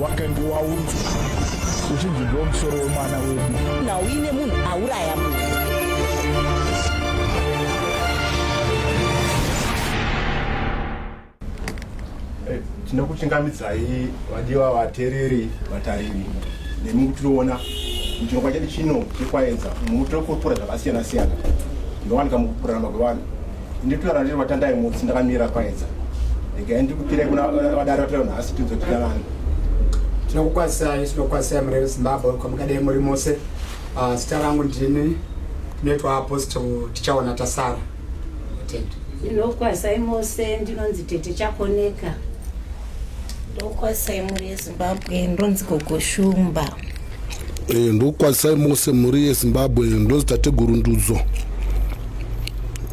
wakange waunzwa uchinzi ndo musoro wemwana wedu na uine munhu auraya munhu eh, tinokuchingamidzai vadiwa vatereri vatariri nemi kutiriona muchirongwa chedu chino chekwaedza mutiri kupura zvakasiyana siyana ndowanika mukupurana magwevana Nditora riri vatandai mutsi ndakamira kwaedza. Ndikae ndikupira kuna vadari vatira nhasi tinzo tira vanhu. Tinokukwazisai tinokwazisai mureve Zimbabwe kwamukadai muri mose. Ah, zita rangu ndini netwa apostle tichaona tasara. Tenda. Ndinokwazisai mose ndinonzi tete chakoneka. Ndokwazisai mureze. Zimbabwe ndonzi gogo shumba. Eh, ndokwazisai mose mhuri yezimbabwe ndonzi tateguru ndudzo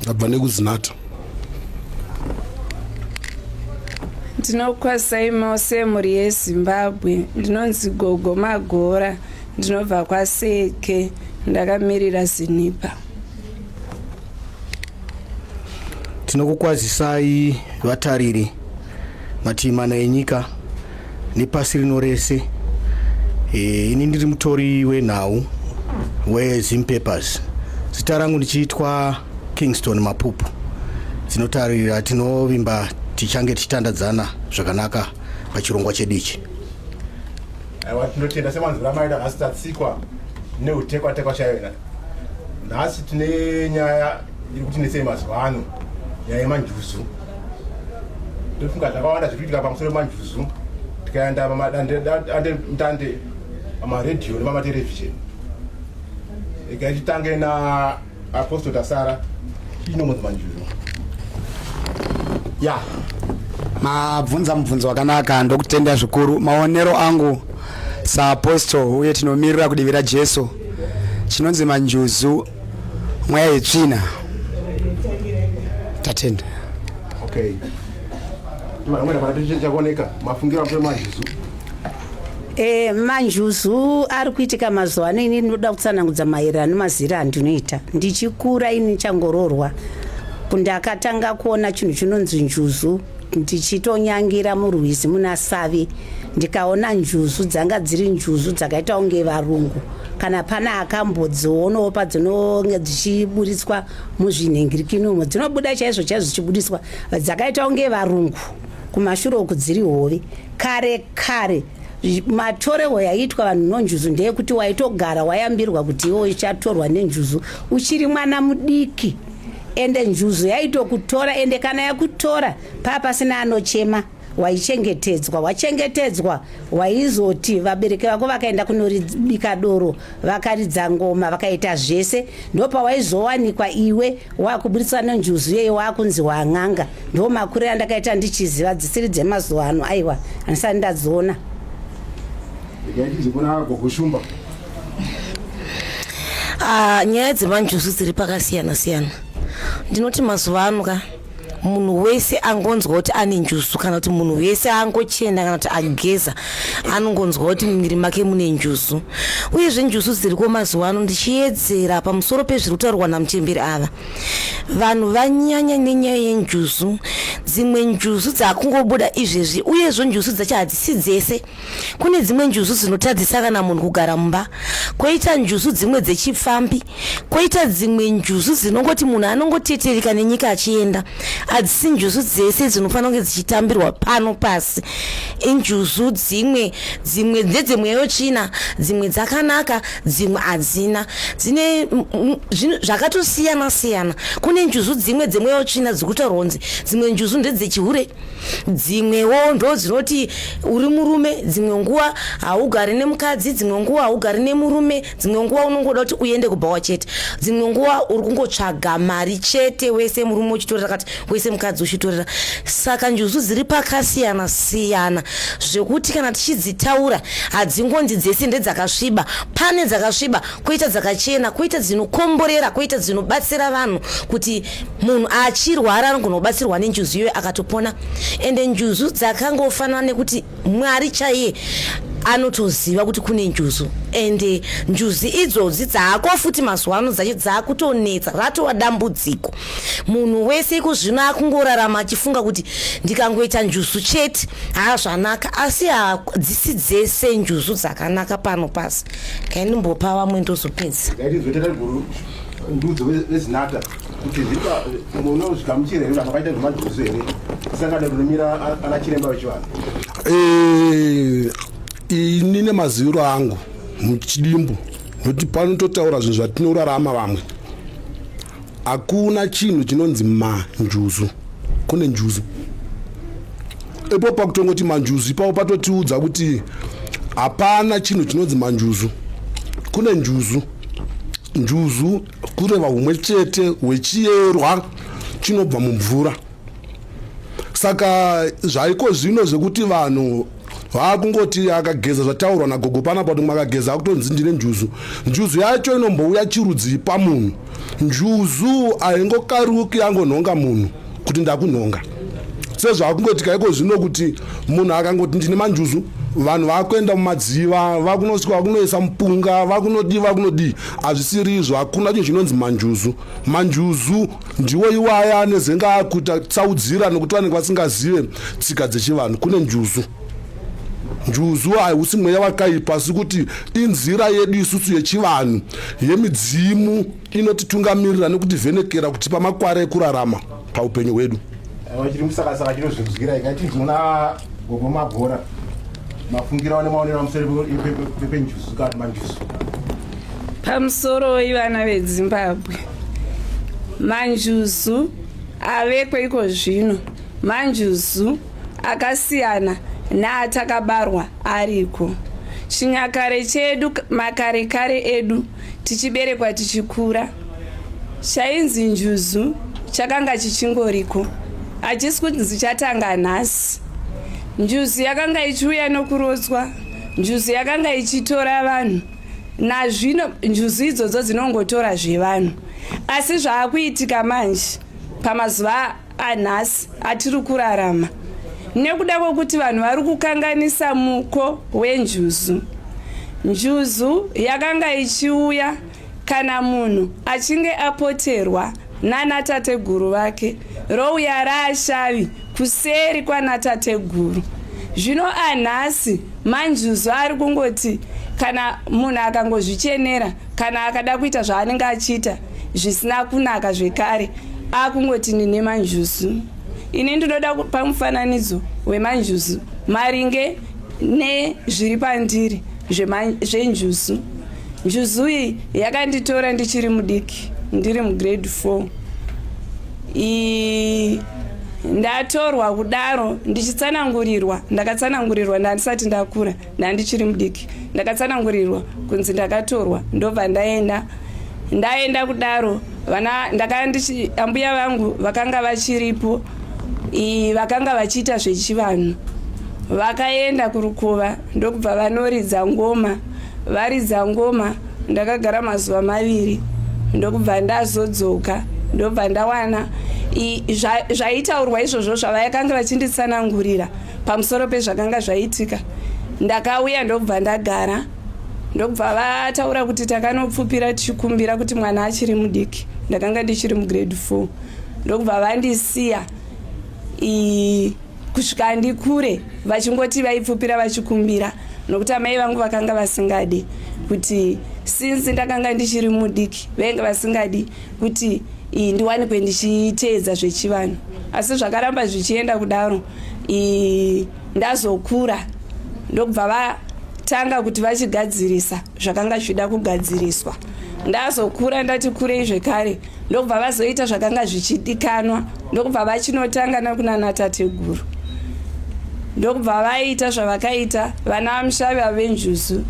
ndabva nekuzinata ndinokwazisai mose mhuri yezimbabwe ndinonzi gogo magora ndinobva kwaseke ndakamirira zinipa tinokukwazisai vatariri mativi mana enyika nepasi rino rese e, ini ndiri mutori wenhau wezim papers zita rangu ndichiitwa kingston mapupu dzinotarira tinovimba tichange tichitandadzana zvakanaka pachirongwa chedu ichi aiwa tinotenda semanzira maida nhasi tatsikwa neutekwatekwa chaiyo nhasi tine nyaya iri kuti nesei mazuva ano nyaya yemanjuzu ndofunga zvakawanda zviri kuitika pamusoro manjuzu tikaenda pamadandemutande pamaredhiyo nepamaterevhizheni ega titange naapostle tasara inomozi manjuzu ya mabvunza mubvunzo wakanaka ndokutenda zvikuru maonero angu saapostle uye tinomirira kudivi rajesu chinonzi manjuzu mweya yetsvina tatenda okay vamwene vana chakoneka mafungiro apo manjuzu e manjuzu ari kuitika mazuva ano ini ndinoda kutsanangudza maererano nemazira andinoita ndichikura ini changororwa ndakatanga kuona chinhu chinonzi njuzu ndichitonyangira murwizi muna savi ndikaona njuzu dzanga dziri njuzu dzakaita kunge varungu kana pane akambodzionawo padzinonge dzichiburitswa muzvinhingirikini umo dzinobuda chaizvo chaizvo dzichibudiswa dzakaita kunge varungu kumashure uku dziri hove kare kare matorehwo yaiitwa vanhu nonjuzu ndeyekuti waitogara wayambirwa kuti iwo ichatorwa nenjuzu uchiri mwana mudiki ende njuzu yaitokutora ende kana yakutora paa pasina anochema waichengetedzwa wachengetedzwa waizoti vabereki vako vakaenda kunoribika doro vakaridza ngoma vakaita zvese ndopawaizowanikwa iwe wakuburitswa nenjuzu yeye wakunzi wan'anga ndo makurira ndakaita ndichiziva dzisiri dzemazuva ano aiwa handisati ndadziona Ah, nyaya dzemanjuzu dziri pakasiyana siyana ndinoti mazuva ano ka munhu wese angonzwa kuti ane njuzu kana kuti munhu wese angochena kana kuti ageza anongonzwa kuti mumiri make mune njuzu uyezve njuzu dziriko mazuva ano ndichiyedzera pamusoro pezviri kutaurwa namuchemberi ava vanhu vanyanya nenyaya yenjuzu dzimwe njuzu dzaakungobuda izvezvi uyezvo njuzu dzacho hadzisi dzese kune dzimwe njuzu dzinotadzisa kana munhu kugara mumba koita njuzu dzimwe dzechipfambi koita dzimwe njuzu dzinongoti munhu anongotetereka nenyika achienda hadzisi njuzu dzese dzinofanira kunge dzichitambirwa pano pasi injuzu dzimwe dzimwe ndedzemweya yochina dzimwe dzakanaka dzimwe hadzina dzine zvakatosiyana siyana kune njuzu dzimwe dzemweya yochina dziri kutaurwa kunzi dzimwe njuzu ndedzechihure dzimwewo ndo dzinoti uri murume dzimwe nguva haugari nemukadzi dzimwe nguva haugari nemurume dzimwe nguva unongoda kuti uende kubhawa chete dzimwe nguva uri kungotsvaga mari chete wese murume uchitorera kati wese mukadzi uchitorera saka njuzu dziri pakasiyana siyana zvekuti kana tichidzitaura hadzingonzi dzese ndedzakasviba pane dzakasviba koita dzakachena koita dzinokomborera koita dzinobatsira vanhu kuti munhu achirwara anogona kubatsirwa nenjuzu iyoyo akatopona ende njuzu dzakangofanana nekuti mwari chaiye anotoziva kuti kune njuzu ende njuzi idzodzi dzaako futi mazuva ano dzacho dzaakutonetsa ratova dambudziko munhu wese iko zvino akungorarama achifunga kuti ndikangoita njuzu chete haa zvanaka asi hadzisi dzese njuzu dzakanaka pano pasi kaindimbopa vamwe ndozopedza ndudzo vezinata kuti munozvigamuchira here vakaita zvemadhuzu here sangano rinomira ana chiremba vechivanhu eh, ini nemaziviro angu muchidimbu nokuti panototaura zvinhu zvatinorarama vamwe hakuna chinhu chinonzi manjuzu kune njuzu ipo pakutongoti manjuzu ipapo patotiudza kuti hapana chinhu chinonzi manjuzu kune njuzu njuzu kureva humwe chete hwechiyerwa chinobva mumvura saka zvaiko zvino zvekuti vanhu vakungoti akageza zvataurwa nagogo panapa kuti makageza akutonzi ndine njuzu njuzu yacho inombouya chirudzii pamunhu njuzu haingokaruki yangonhonga munhu kuti ndakunhonga sezvakungoti kaiko zvino kuti munhu akangoti ndine manjuzu vanhu vakuenda mumadziva vakunosvika vakunoisa mupunga vakunodii vakunodii hazvisiri izvo hakuna chinhu chinonzi manjuzu manjuzu ndiwo iwaya anezenge akuita tsaudzira nokuti vanenge vasingazive tsika dzechivanhu kune njuzu njuzu haiusi mweya wakaipa sikuti inzira yedu isusu yechivanhu yemidzimu inotitungamirira nekutivhenekera kutipa makwara ekurarama paupenyu hwedu vachiri musakasaka chinozvinzwira ika tizoona gogo magora mafungira wane maonero amuseri pepenjusu kana manjusu pamusoro ivana vedzimbabwe manjuzu aveko iko zvino manjuzu akasiyana naatakabarwa ariko chinyakare chedu makarekare edu tichiberekwa tichikura chainzi njuzu chakanga chichingoriko hachisi kunzi chatanga nhasi njuzu yakanga ichiuya nokurodzwa njuzu yakanga ichitora vanhu nazvino njuzu idzodzo dzinongotora zvevanhu asi zvaakuitika manje pamazuva anhasi atiri kurarama nekuda kwekuti vanhu vari kukanganisa muko wenjuzu njuzu yakanga ichiuya kana munhu achinge apoterwa nanatateguru vake rouya raashavi kuseri kwanatateguru zvino anhasi manjuzu ari kungoti kana munhu akangozvichenera kana akada kuita zvaanenge achiita zvisina kunaka zvekare akungoti nine manjuzu ini ndinoda kupa mufananidzo wemanjuzu maringe nezviri pandiri zvenjuzu njuzu iyi yakanditora ndichiri mudiki ndiri mugrade four ii ndatorwa kudaro ndichitsanangurirwa ndakatsanangurirwa ndandisati ndakura ndandichiri mudiki ndakatsanangurirwa kunzi ndakatorwa ndobva ndaenda ndaenda kudaro vana ndakandichi ambuya vangu vakanga vachiripo vakanga vachiita zvechivanhu vakaenda kurukova ndokubva vanoridza ngoma varidza ngoma ndakagara mazuva maviri ndokubva ndazodzoka ndobva ndawana zvaitaurwa izvozvo zvavayakanga vachinditsanangurira pamusoro pezvakanga zvaitika ndakauya ndobva ndagara ndobva vataura kuti takanopfupira tichikumbira kuti mwana achiri mudiki ndakanga ndichiri mugrade four ndokubva vandisiya kusvika ndikure vachingoti vaipfupira vachikumbira nokuti amai vangu vakanga vasingadi kuti since ndakanga ndichiri mudiki vainge vasingadi kuti ndiwanikwe ndichiteedza zvechivanhu asi zvakaramba zvichienda kudaro ndazokura ndokubva vatanga kuti vachigadzirisa zvakanga zvichida kugadziriswa ndazokura ndati kurei zvekare ndokubva vazoita zvakanga zvichidikanwa ndokubva vachinotanga nakunana tateguru ndokubva vaita zvavakaita vana vamushavi vavenjuzu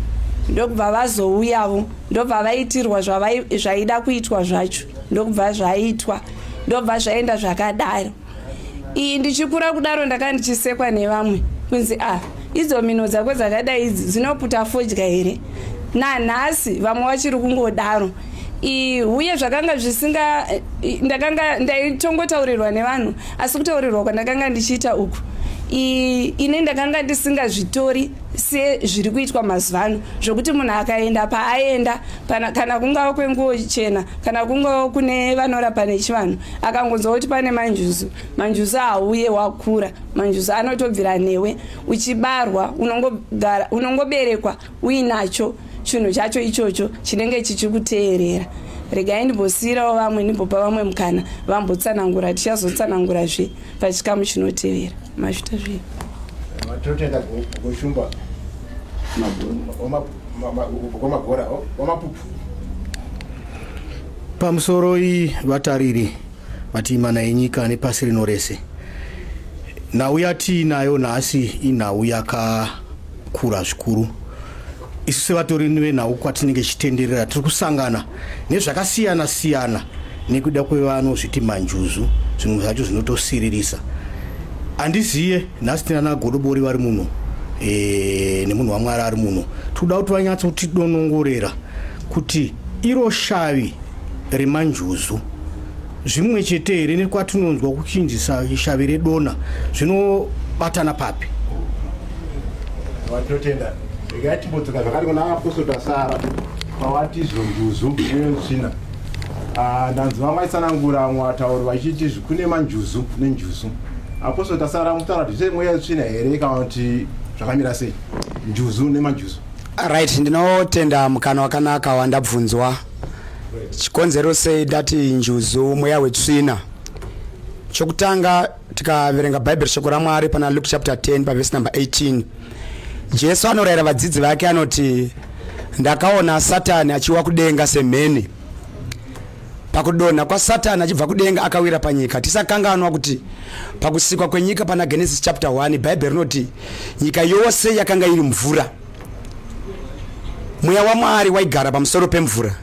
ndokubva vazouyavo ndobva vaitirwa zvaida kuitwa zvacho ndokubva zvaitwa ndobva zvaenda zvakadaro iyi ndichikura kudaro ndaka ndichisekwa nevamwe kunzi a ah, idzo mino dzako dzakadai idzi dzinoputa fodya here nanhasi vamwe vachiri kungodaro uye zvakanga zvisinga ndakanga ndaitongotaurirwa nevanhu asi kutaurirwa kwandakanga ndichiita uku ini ndakanga ndisingazvitori sezviri kuitwa mazuva ano zvokuti munhu akaenda paaenda kana kungava kwenguo chena kana kungava kune vanorapa nechivanhu akangonzwa kuti pane manjuzu manjuzu hauye wakura manjuzu anotobvira newe uchibarwa unongoberekwa uinacho chinhu chacho ichocho chinenge chichikuteerera regai ndimbosiyirawo vamwe ndimbopa vamwe mukana vambotsanangura tichazotsanangurazve pachikamu chinotevera Mazvita zvi. Matotenda kushumba. Mabona. Omagora, omapupu. Pamusoro iyi vatariri vati imana yenyika nepasi rino rese nhau yatiinayo nhasi inhau yakakura zvikuru isu sevatori venhau kwatinenge tichitenderera tiri kusangana nezvakasiyana siyana nekuda kwevanozviti manjuzu zvimwe zvacho zvinotosiririsa handiziye nhasi tinana godobori vari muno e, nemunhu wamwari ari muno tikuda kuti vanyatsa kuti donongorera kuti iro shavi remanjuzu zvimwe chete here nekwatinonzwa kuchinjisa shavi redona zvinobatana papi vatotenda regai timbodzoka zvakati kuna apostle sara pawati zvonjuzu netsvina ah, ndanzi vamwe vaisanangura vamwe vatauri vachiti kune manjuzu nenjuzu apostle tasara mutaura kuti zveimwe yetsvina here kana kuti zvakamira sei njuzu nemanjuzu right ndinotenda mukana wakanaka wandabvunzwa chikonzero sei ndati njuzu mweya wetsvina chokutanga tikaverenga bhaibheri shoko ramwari pana luke chapter 10 pavhesi number 18 jesu anorayira vadzidzi vake anoti ndakaona satani achiwa kudenga semheni pakudonha kwasatani achibva kudenga akawira panyika tisakanganwa kuti pakusikwa kwenyika pana genesis chapter 1 bhaibheri rinoti nyika yose yakanga iri mvura mweya wamwari waigara pamusoro pemvura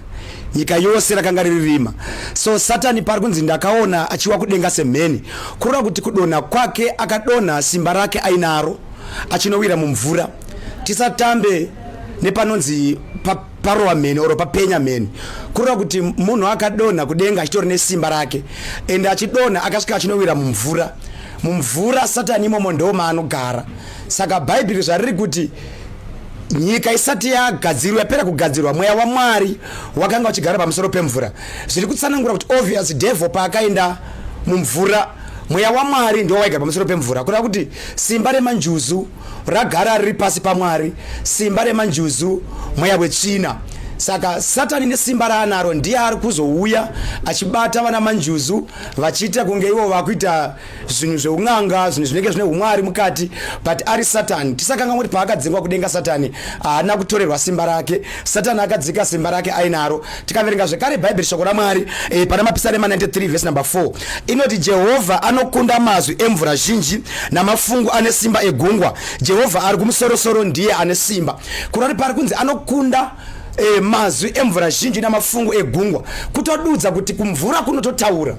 nyika yose rakanga riri rima so satani paari kunzi ndakaona achiwa kudenga semheni kureva kuti kudonha kwake akadonha simba rake ainaro achinowira mumvura tisatambe nepanonzi parowa mheni oro papenya mheni kureva kuti munhu akadonha kudenga achitori nesimba rake ende achidonha akasvika achinowira mumvura mumvura satani imomo ndomaanogara Saka Bhaibheri zvariri kuti nyika isati yagadzirwa yapera kugadzirwa mweya wamwari wakanga uchigara pamusoro pemvura zviri kutsanangura kuti obvious devil paakaenda mumvura mweya wamwari ndiwo waigara pamusoro pemvura kureva kuti simba remanjuzu ragara riri pasi pamwari simba remanjuzu mweya wetsvina saka satani nesimba raanaro ndiye ari kuzouya achibata vana manjuzu vachiita kunge ivo vakuita zvinhu zveun'anga zvinhu zvinenge zvine umwari mukati but ari satani tisakangamwa kuti paakadzingwa kudenga satani haana kutorerwa simba rake satani akadzika simba rake ainaro tikaverenga zvekare bhaibheri shoko ramwari e, pana mapisarema 93 vhesi number 4 inoti jehovha anokunda mazwi emvura zhinji namafungu ane simba egungwa jehovha ari kumusorosoro ndiye ane simba kurati pari kunzi anokunda e, mazwi emvura zhinji namafungu egungwa kutodudza kuti kumvura kunototaura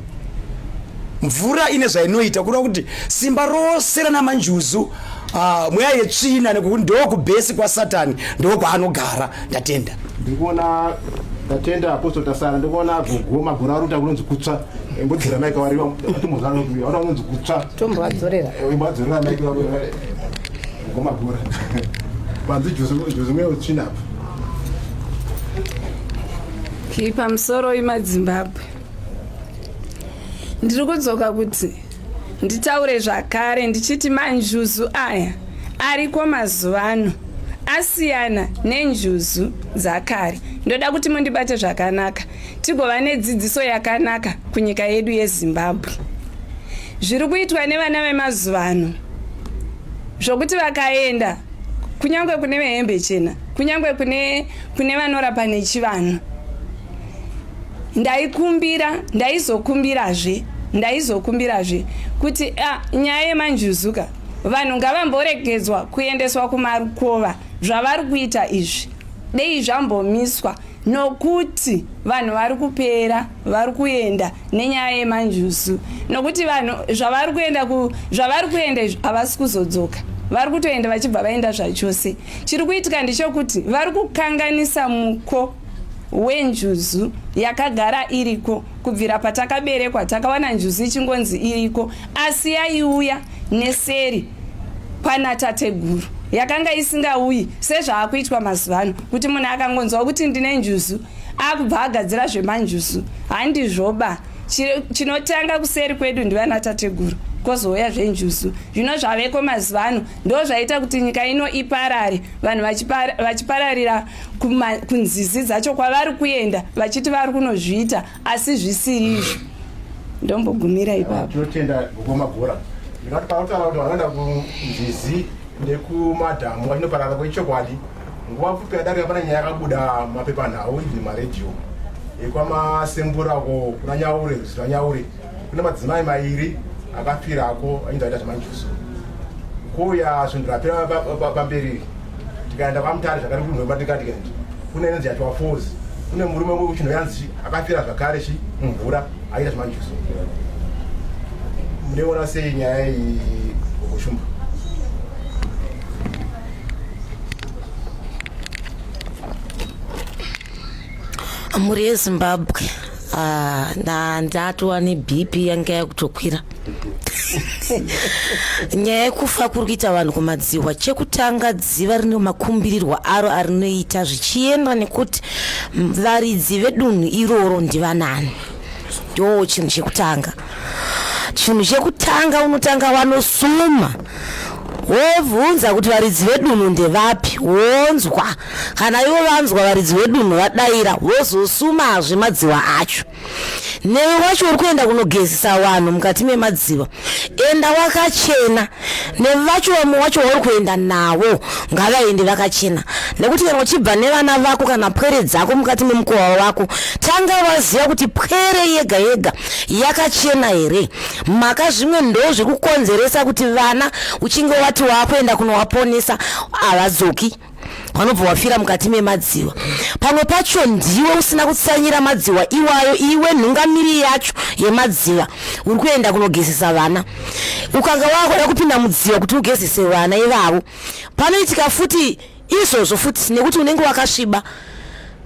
mvura ine zvainoita kureva kuti simba rose rana manjuzu uh, mweya yetsvina nekuti ndokubhesi kwasatani ndokwaanogara ndatenda ndikuona tatenda apostle tasara ndikuona gogo magora ari kuita kunonzi kutsva imbodzera maika wari atomozana kuti aona kunonzi kutsva tomboadzorera eh, imboadzorera maika wari gogo magora panzi juzi mweya wetsvina apa kipa musoro imadzimbabwe ndiri kudzoka kuti nditaure zvakare ndichiti manjuzu aya ariko mazuva ano asiyana nenjuzu dzakare ndoda kuti mundibate zvakanaka tigova nedzidziso yakanaka kunyika yedu yezimbabwe zviri kuitwa nevana vemazuva ano zvokuti vakaenda kunyange kune vehembe chena kunyange kune vanorapa nechivanhu ndaikumbira ndaizokumbirazve ndaizokumbirazve kuti ah, nyaya yemanjuzuka vanhu ngavamboregedzwa kuendeswa kumarukova zvavari kuita izvi dei zvambomiswa nokuti vanhu vari kupera vari kuenda nenyaya yemanjuzu nokuti vanhu zvavari kuenda zvavari kuenda izvi havasi kuzodzoka vari kutoenda vachibva vaenda zvachose chiri kuitika ndechokuti vari kukanganisa muko wenjuzu yakagara iriko kubvira patakaberekwa takawana njuzu ichingonzi iriko asi yaiuya neseri kwana tateguru yakanga isingauyi sezvaakuitwa mazuva ano kuti munhu akangonzwa kuti ndine njuzu akubva agadzira zvemanjuzu handizvoba chinotanga kuseri kwedu ndivana tateguru kozouya zvenjuzu zvino zvaveko mazuva ano ndo zvaita kuti nyika ino iparare vanhu vachipararira kunzizi dzacho kwavari kuenda vachiti vari kunozviita asi zvisiri izvo ndombogumira ipapo tinotenda gokoma bhora ndikati pautaura kuti vanoenda kunzizi nekumadhamu vachinoparara kwechokwadi nguva pfupi yadarika pane nyaya yakabuda mapepanhau ibvi maredhiyo yekwamasembura ko kuna nyaure zita nyaure kune madzimai mairi akafirako ainge aita zvemanjuso kuuya svondo rapera pamberi tikaenda kwamutare zvakare kunhwematikatiend kune inonzi yatiwa fos kune murume umwe kuchinhu yanzi akafira zvakare chi mumvura aita zvemanjuso muneona sei nyaya iyi gogoshumba mhuri yezimbabwe ah, ndatova nebp yanga yakutokwira nyaya yekufa kuri kuita vanhu kumadzihwa chekutanga dziva rine makumbirirwa aro arinoita zvichienda nekuti varidzi vedunhu iroro ndivanani ndo chinhu chekutanga chinhu chekutanga unotanga wanosuma wobvunza kuti varidzi vedunhu ndevapi wonzwa Kana ivo vanzwa varidzi vedunhu vadaira vozosumazve madziva acho. Newe wacho uri kuenda kunogezesa vanhu mukati memadziva, enda wakachena. Nevacho vamwe wacho wauri kuenda navo ngavaende vakachena, nekuti kana uchibva nevana vako kana pwere dzako mukati memukowa wako, tanga waziva kuti pwere yega yega yakachena here. Mhaka zvimwe ndo zvekukonzeresa kuti vana uchinge wati wakuenda kunowaponesa havadzoki. wanobva wafira mukati memadziwa pamwe pacho ndiwe usina kutsanyira madziwa iwayo iwe nhungamiri yacho yemadziwa uri kuenda kunogezesa vana ukanga wakuda kupinda mudziwa kuti ugezese vana ivavo panoitika futi izvozvo futi nekuti unenge wakasviba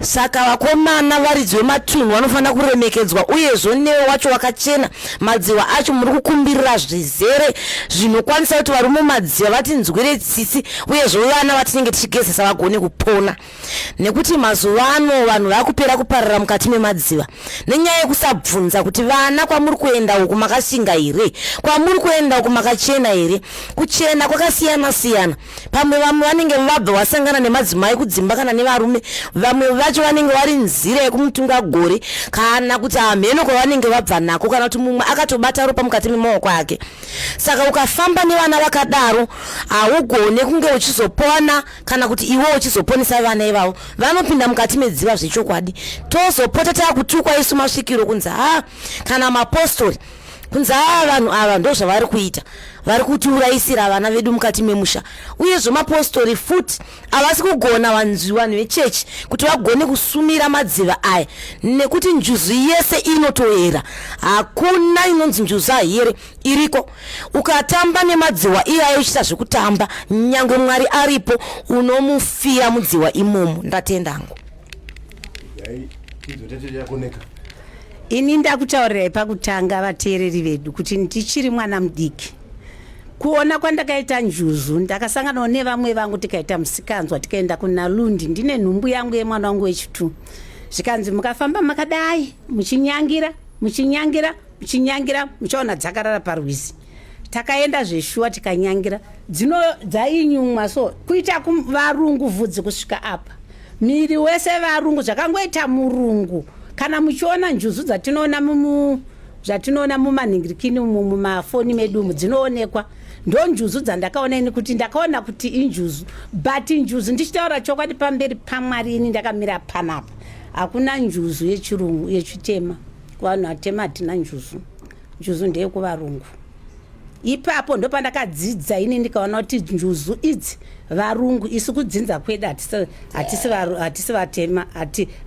saka vakomana varidzi vematunhu vanofanira kuremekedzwa uyezvo newe wacho wakachena madziwa acho muri kukumbirira zvizere zvinokwanisa kuti varume madziwa vatinzwire tsitsi uyezvo vana vatinenge tichigezesa vagone kupona nekuti mazuva ano vanhu vakupera kuparira mukati memadziva nenyaya yekusabvunza kuti vana kwamuri kuenda uku makashinga here kwamuri kuenda uku makachena here kuchena kwakasiyana siyana pamwe vamwe vanenge vabva vasangana nemadzimai kudzimba kana nevarume vamwe vacho vanenge vari nzira yekumutunga gore kana kuti hamheno kwavanenge vabva nako kana kuti mumwe akatobata ropa mukati memaoko ake saka ukafamba nevana vakadaro haugone kunge uchizopona kana kuti iwe uchizoponesa vana ivavo vanopinda mukati medziva zvechokwadi tozopota takutukwa isu masvikiro kunzi ha kana mapostori kunzi ava vanhu ava ndo zvavari kuita vari kutiurayisira vana vedu mukati memusha uye zvemapostori futi havasi kugona vanzwi vanhu vechechi kuti vagone kusumira madziva aya nekuti njuzu yese inotoera hakuna inonzi njuzu ahere iriko ukatamba nemadziwa iyayo uchiita zvekutamba nyange mwari aripo unomufira mudziwa imomo ndatenda hangu ini ndakutaurirai pakutanga vateereri vedu kuti ndichiri mwana mudiki kuona kwandakaita njuzu ndakasanganawo nevamwe vangu tikaita musikanzwa tikaenda kunalundi ndine nhumbu yangu yemwana wangu wechitu zvikanzi mukafamba makadai muchinyangira muchinyangira muchinyangira muchaona dzakarara parwizi takaenda zveshuwa tikanyangira dzino dzainyumwa so kuita kuvarungu vhudzi kusvika apa miri wese varungu zvakangoita murungu kana muchiona njuzu dzatinoona mumu zvatinoona mumanhingirikini umu mumafoni medu umu dzinoonekwa ndonjuzu dzandakaona ini kuti ndakaona kuti injuzu but njuzu ndichitaura chokwadi pamberi pamwari ini ndakamira panapa hakuna njuzu yechirungu yechitema kuvanhu vatema hatina njuzu njuzu ndeyekuvarungu ipapo ndopandakadzidza ini ndikaona kuti njuzu idzi varungu isu kudzinza kwedu hatisi vatema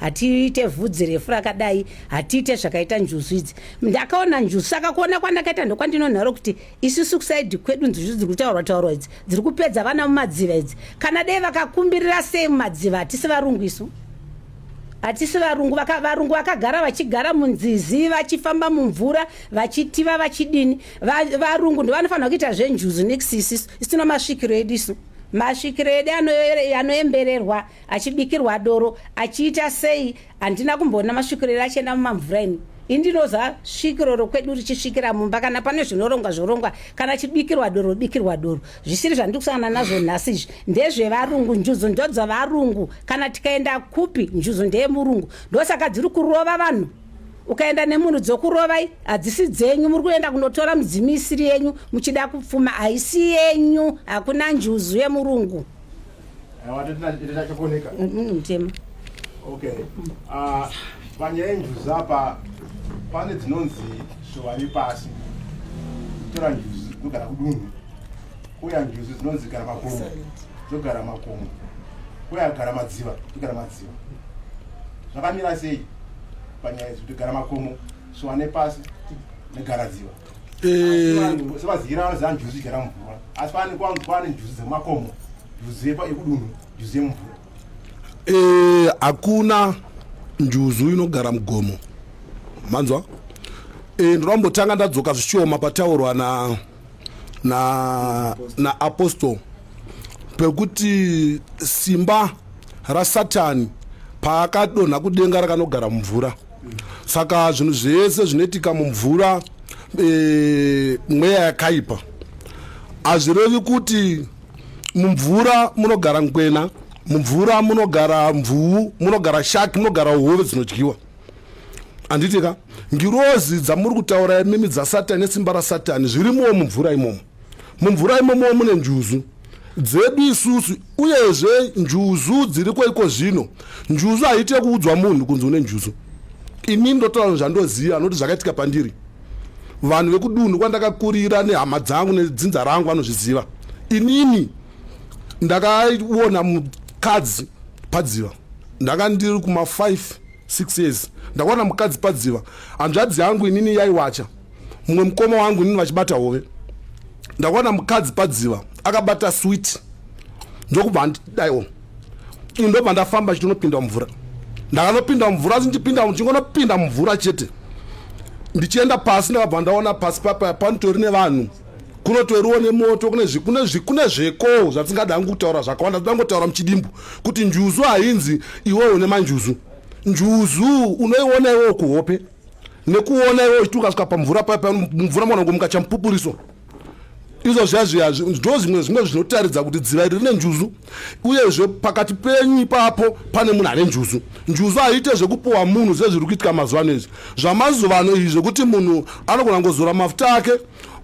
hatiite vhudzi refu rakadai hatiite zvakaita njuzu idzi ndakaona njuzu saka kuona kwandakaita ndokwandinonharo kuti isusu kusaidi kwedu njuzu dziri kutaurwa taurwa idzi dziri kupedza vana mumadziva idzi kana dei vakakumbirira sei mumadziva hatisi varungu isu hatisi varungu vaka, varungu vakagara vachigara munzizi vachifamba mumvura vachitiva vachidini va, varungu ndovanofanira kuita zvenjuzu next isisu isino masvikiro edu isu masvikiro edu anoembererwa achibikirwa doro achiita sei handina kumboona masvikiro edu achienda mumamvura ini indinoza svikiro rokwedu richisvikira mumba kana pane zvinorongwa zvorongwa kana chibikirwa doro bikirwa doro zvisiri zvandiri kusangana nazvo nhasi izvi ndezvevarungu njuzu ndodzovarungu kana tikaenda kupi njuzu ndeyemurungu ndosaka dziri kurova vanhu ukaenda nemunhu dzokurovai hadzisi dzenyu muri kuenda kunotora mudzimu isiri yenyu muchida kupfuma haisi yenyu hakuna njuzu yemurungu Watakakoneka. Mimi mtema. Okay. Ah, panya enjuzi apa pane dzinonzi zviwari pasi. Tora njuzi kugara kudunhu. Kuya njuzi dzinonzi gara makomo. Zogara makomo. Kuya gara madziva, kugara madziva. Zvakamira sei? Panya enjuzi kugara makomo, zviwane pasi, negara dziva. sevazigira vanoziva njuzu igara mumvura asi pane kwanzi kwane njuzu dzemakomo njuzu yekudunhu njuzu yemumvura eh, hakuna njuzu inogara mugomo manzwa eh, ndoda kumbotanga ndadzoka zvichioma pataurwa na na na apostle pekuti simba rasatani paakadonha kudenga rakanogara mumvura saka zvinhu zvese zvinoitika mumvura e, mweya yakaipa hazvirevi kuti mumvura munogara nkwena mumvura munogara mvuu munogara shaki munogara hove dzinodyiwa handitika ngirozi dzamuri kutaura imimi dzasatani nesimba rasatani zvirimowo mumvura imomo mumvura imomowo mune njuzu dzedu isusu uyezve njuzu dziriko iko zvino njuzu haite kuudzwa munhu kunzi une njuzu ini ndotaura zvandoziva anoti zvakaitika pandiri vanhu vekudunhu kwandakakurira nehama dzangu nedzinza rangu vanozviziva inini ndakaona mukadzi padziva ndanga ndiri kuma 5 6 years ndakawana mukadzi padziva hanzvadzi yangu inini yaiwacha mumwe mukoma wangu inini vachibata hove ndakawana mukadzi padziva akabata swit ndokubva andidaiwo ini ndobva ndafamba chitonopinda mumvura ndakanopinda mumvura asi ndichipinda ndichingonopinda mumvura chete ndichienda pasi ndakabva ndaona pasi papa panitori nevanhu kunotoriwo nemoto kune zvekowo zvatisingada hangu kutaura zvakawanda toda ngotaura muchidimbu kuti njuzu hainzi iwewo une manjuzu njuzu unoiona iwewo kuhope nekuona iwewo uchiti ukasvika pamvura papa mvura mwana ngo mukachamupupuriso izvo zviya zviya ndo zvimwe zvimwe zvinotaridza kuti dziva iri rine njuzu uyezve pakati penyu ipapo pane munhu ane njuzu njuzu haiite zvekupuwa munhu zvezviri kuitika mazuva ano izvi zvamazuva ano izvi zvekuti munhu anogona ngozora mafuta ake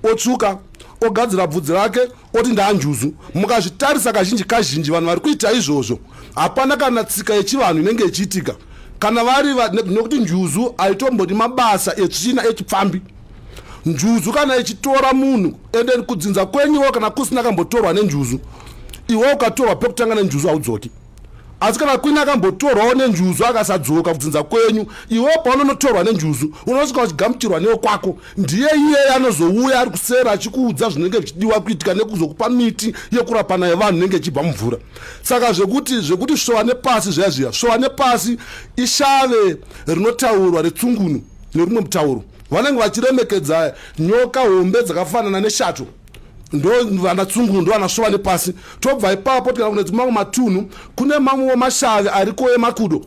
otsvuka ogadzira bvudzi rake oti ndaanjuzu mukazvitarisa kazhinji kazhinji vanhu vari kuita izvozvo hapana kana tsika yechivanhu inenge ichiitika kana vari nekuti njuzu haitombodi mabasa etsvina echipfambi njuzu kana ichitora munhu ende kudzinza kwenyiwo kana kusina kambotorwa nenjuzu iwe ukatorwa pekutanga nenjuzu haudzoki asi kana kwini akambotorwawo nenjuzu akasadzoka kudzinza kwenyu iwewo paunonotorwa nenjuzu unosvika uchigamuchirwa newe kwako ndiye iyeye anozouya ari kusera achikuudza zvinenge zvichidiwa kuitika nekuzokupa miti yekurapana yevanhu inenge ichibva mumvura saka zvekuti zvekuti svowa nepasi zviya zviya svowa nepasi ishave rinotaurwa retsungunu nerumwe mutauro vanenge vachiremekedza nyoka hombe dzakafanana neshato ndo vanatsungunhu ndo vanasvova nepasi tobva ipapo tikana kune dzimamwe matunhu kune mamwewo mashavi ariko emakudo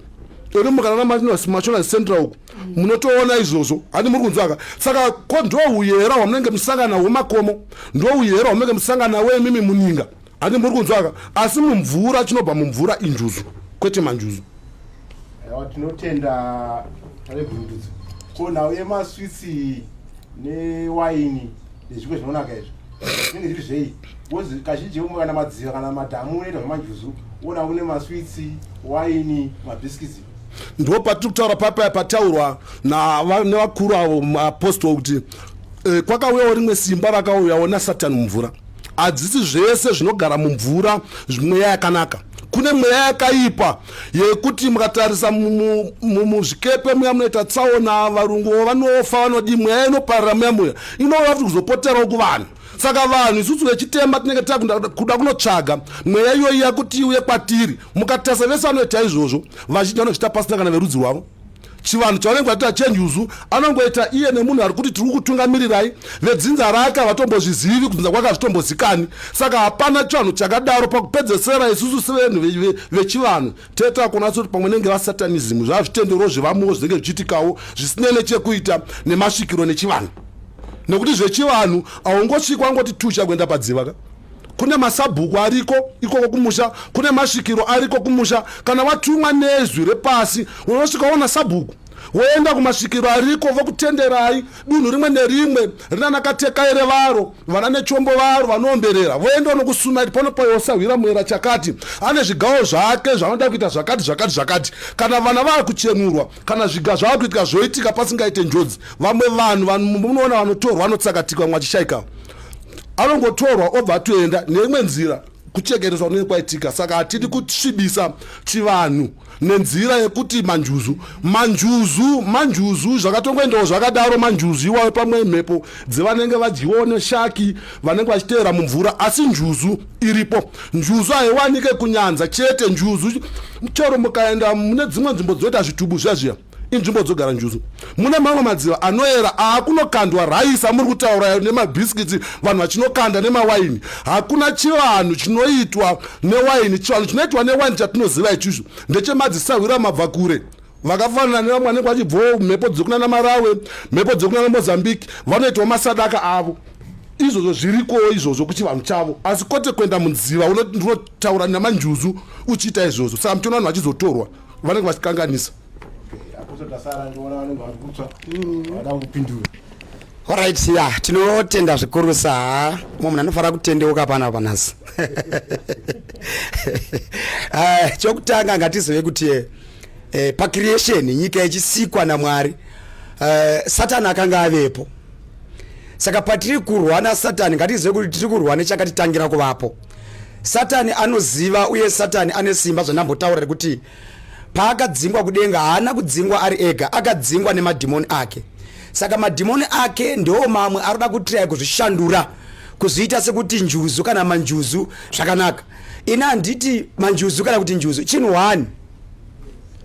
ori mukanana machona central uku munotoona izvozvo handi muri kunzwaka saka ko ndo uyera hwamunenge musangana hwemakomo ndo uyera hwamunenge musangana wo imimi muninga Ati muri kunzwaka asi mumvura chinobva mumvura injuzu kwete manjuzu. Yawa tinotenda vebhundudzo. Ko nhau yemaswitsi newaini nezvimwe zvinonaka izvo zvinenge zviri zvei bcoz kazhinji umwe kana madziva kana madhamu unoita zvemanjuzu ona une maswitsi waini mabhiskitsi ndo patiri kutaura papaya pataurwa nevakuru avo maapostol kuti eh, kwakauyawo rimwe simba rakauyawo nasatani mumvura hadzisi zvese zvinogara mumvura mweya yakanaka kune mweya yakaipa yekuti mukatarisa muzvikepe muya munoita tsaona varungu vanofa vanodii mweya inoparira muya muya inova kuti kuzopoterawo kuvanhu saka vanhu isusu vechitema tinenge takuda kunotsvaga mweya iyoyi yakuti iuye kwatiri mukatarisa vese vanoita izvozvo vazhinji vanochita pasina kana verudzi rwavo chivanhu chavanenge vaita chenyuzu anongoita iye nemunhu ari kuti tiri kutungamirirai vedzinza rake havatombozvizivi kudzinza kwake hazvitombozikani saka hapana chivanhu chakadaro pakupedzesera isusu sevenhu vechivanhu teta kuona sekuti pamwe nenge vasatanism zvazvitendero zvevamuwo zvinenge zvichiitikawo zvisinei nechekuita nemasvikiro nechivanhu nekuti zvechivanhu haungosvikwa ngoti tusha kuenda padziva ka kune masabhuku ariko ikoko kumusha kune masvikiro ariko kumusha kana watumwa nezwi repasi unosvika waona sabhuku woenda kumasvikiro ariko vokutenderai dunhu rimwe nerimwe rinana katekai revaro vana nechombo varo vanoomberera voenda unokusunaiti pano payosahwira muera chakati ane zvigawo zvake zvanoda kuita zvakati zvakati zvakati kana vana vava kuchenurwa kana zviga zvava kuitika zvoitika pasingaite njodzi vamwe vanhu munoona vanotorwa vanotsakatika vamwe vachishaikawo anongotorwa obva atoenda neimwe nzira kuchekeresa kunenge kwaitika saka hatidi kusvibisa chivanhu nenzira yekuti manjuzu manjuzu manjuzu zvakatongoendawo zvakadaro manjuzu iwayo pamwe mhepo dzevanenge vadyiwawo neshaki vanenge vachiteera mumvura asi njuzu iripo njuzu haiwanike kunyanza chete njuzu chero mukaenda mune dzimwe nzvimbo dzoita zvitubu zviya zviya inzvimbo dzogara njuzu mune mamwe madziva anoera aakunokandwa raisa muri kutaura nemabhisikiti vanhu vachinokanda nemawaini hakuna chivanhu chinoitwa newaini chivanhu chinoitwa newaini chatinoziva ichizvo ndechemadzisahwira mabva kure vakafanana nevamwe vanenge vachibvawo mhepo dzekunana marawe mhepo dzekunana mozambique vanoitawo masadaka avo izvozvo zvirikowo izvozvo kuchivanhu chavo asi kwete kuenda munziva unotaura namanjuzu uchiita izvozvo saka mutiona vanhu vachizotorwa vanenge vachikanganisa orit ya tinotenda zvikurusa mwe munhu anofanira kutendeuka pana panhasi eh, chokutanga ngatizive kuti eh, eh, pacreation nyika ichisikwa namwari eh, satani akanga avepo saka patiri kurwa nasatani ngatizive kuti tiri kurwa nechakatitangira kuvapo Satani anoziva uye Satani ane simba zvandambotaura rekuti paakadzingwa kudenga haana kudzingwa ari ega akadzingwa nemadhimoni ake saka madhimoni ake ndiwo mamwe aroda kutirai kuzvishandura kuzviita sekuti njuzu kana manjuzu zvakanaka ini handiti manjuzu kana kuti njuzu chinhu one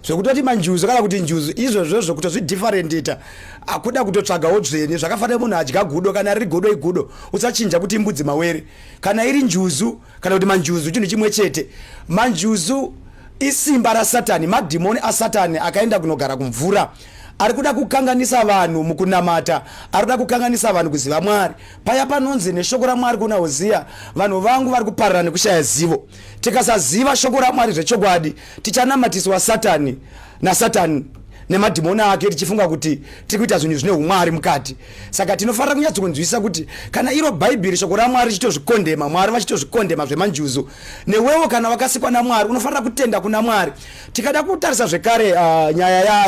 zvekutoti manjuzu kana kuti njuzu izvozvo zvekutozvidifferentita akuda kutotsvagawo dzvene zvakafanira munhu adya gudo kana riri godo igudo usachinja kuti imbudzi mawere kana iri njuzu kana kuti manjuzu chinhu chimwe chete manjuzu isimba rasatani madhimoni asatani akaenda kunogara kumvura ari kuda kukanganisa vanhu mukunamata ari kuda kukanganisa vanhu kuziva mwari paya panonzi neshoko ramwari kuna hoziya vanhu vangu vari kuparara nekushaya zivo tikasaziva shoko ramwari zvechokwadi tichanamatiswa satani nasatani nemadhimoni ake tichifunga kuti tiri kuita zvinhu zvine umwari mukati saka tinofanira kunyatsonzwisisa kuti kana iro bhaibheri shoko ramwari richitozvikondema mwari vachitozvikondema zvemanjuzu newewo kana wakasikwa namwari unofanira kutenda kuna mwari tikada kutarisa zvekare uh, nyaya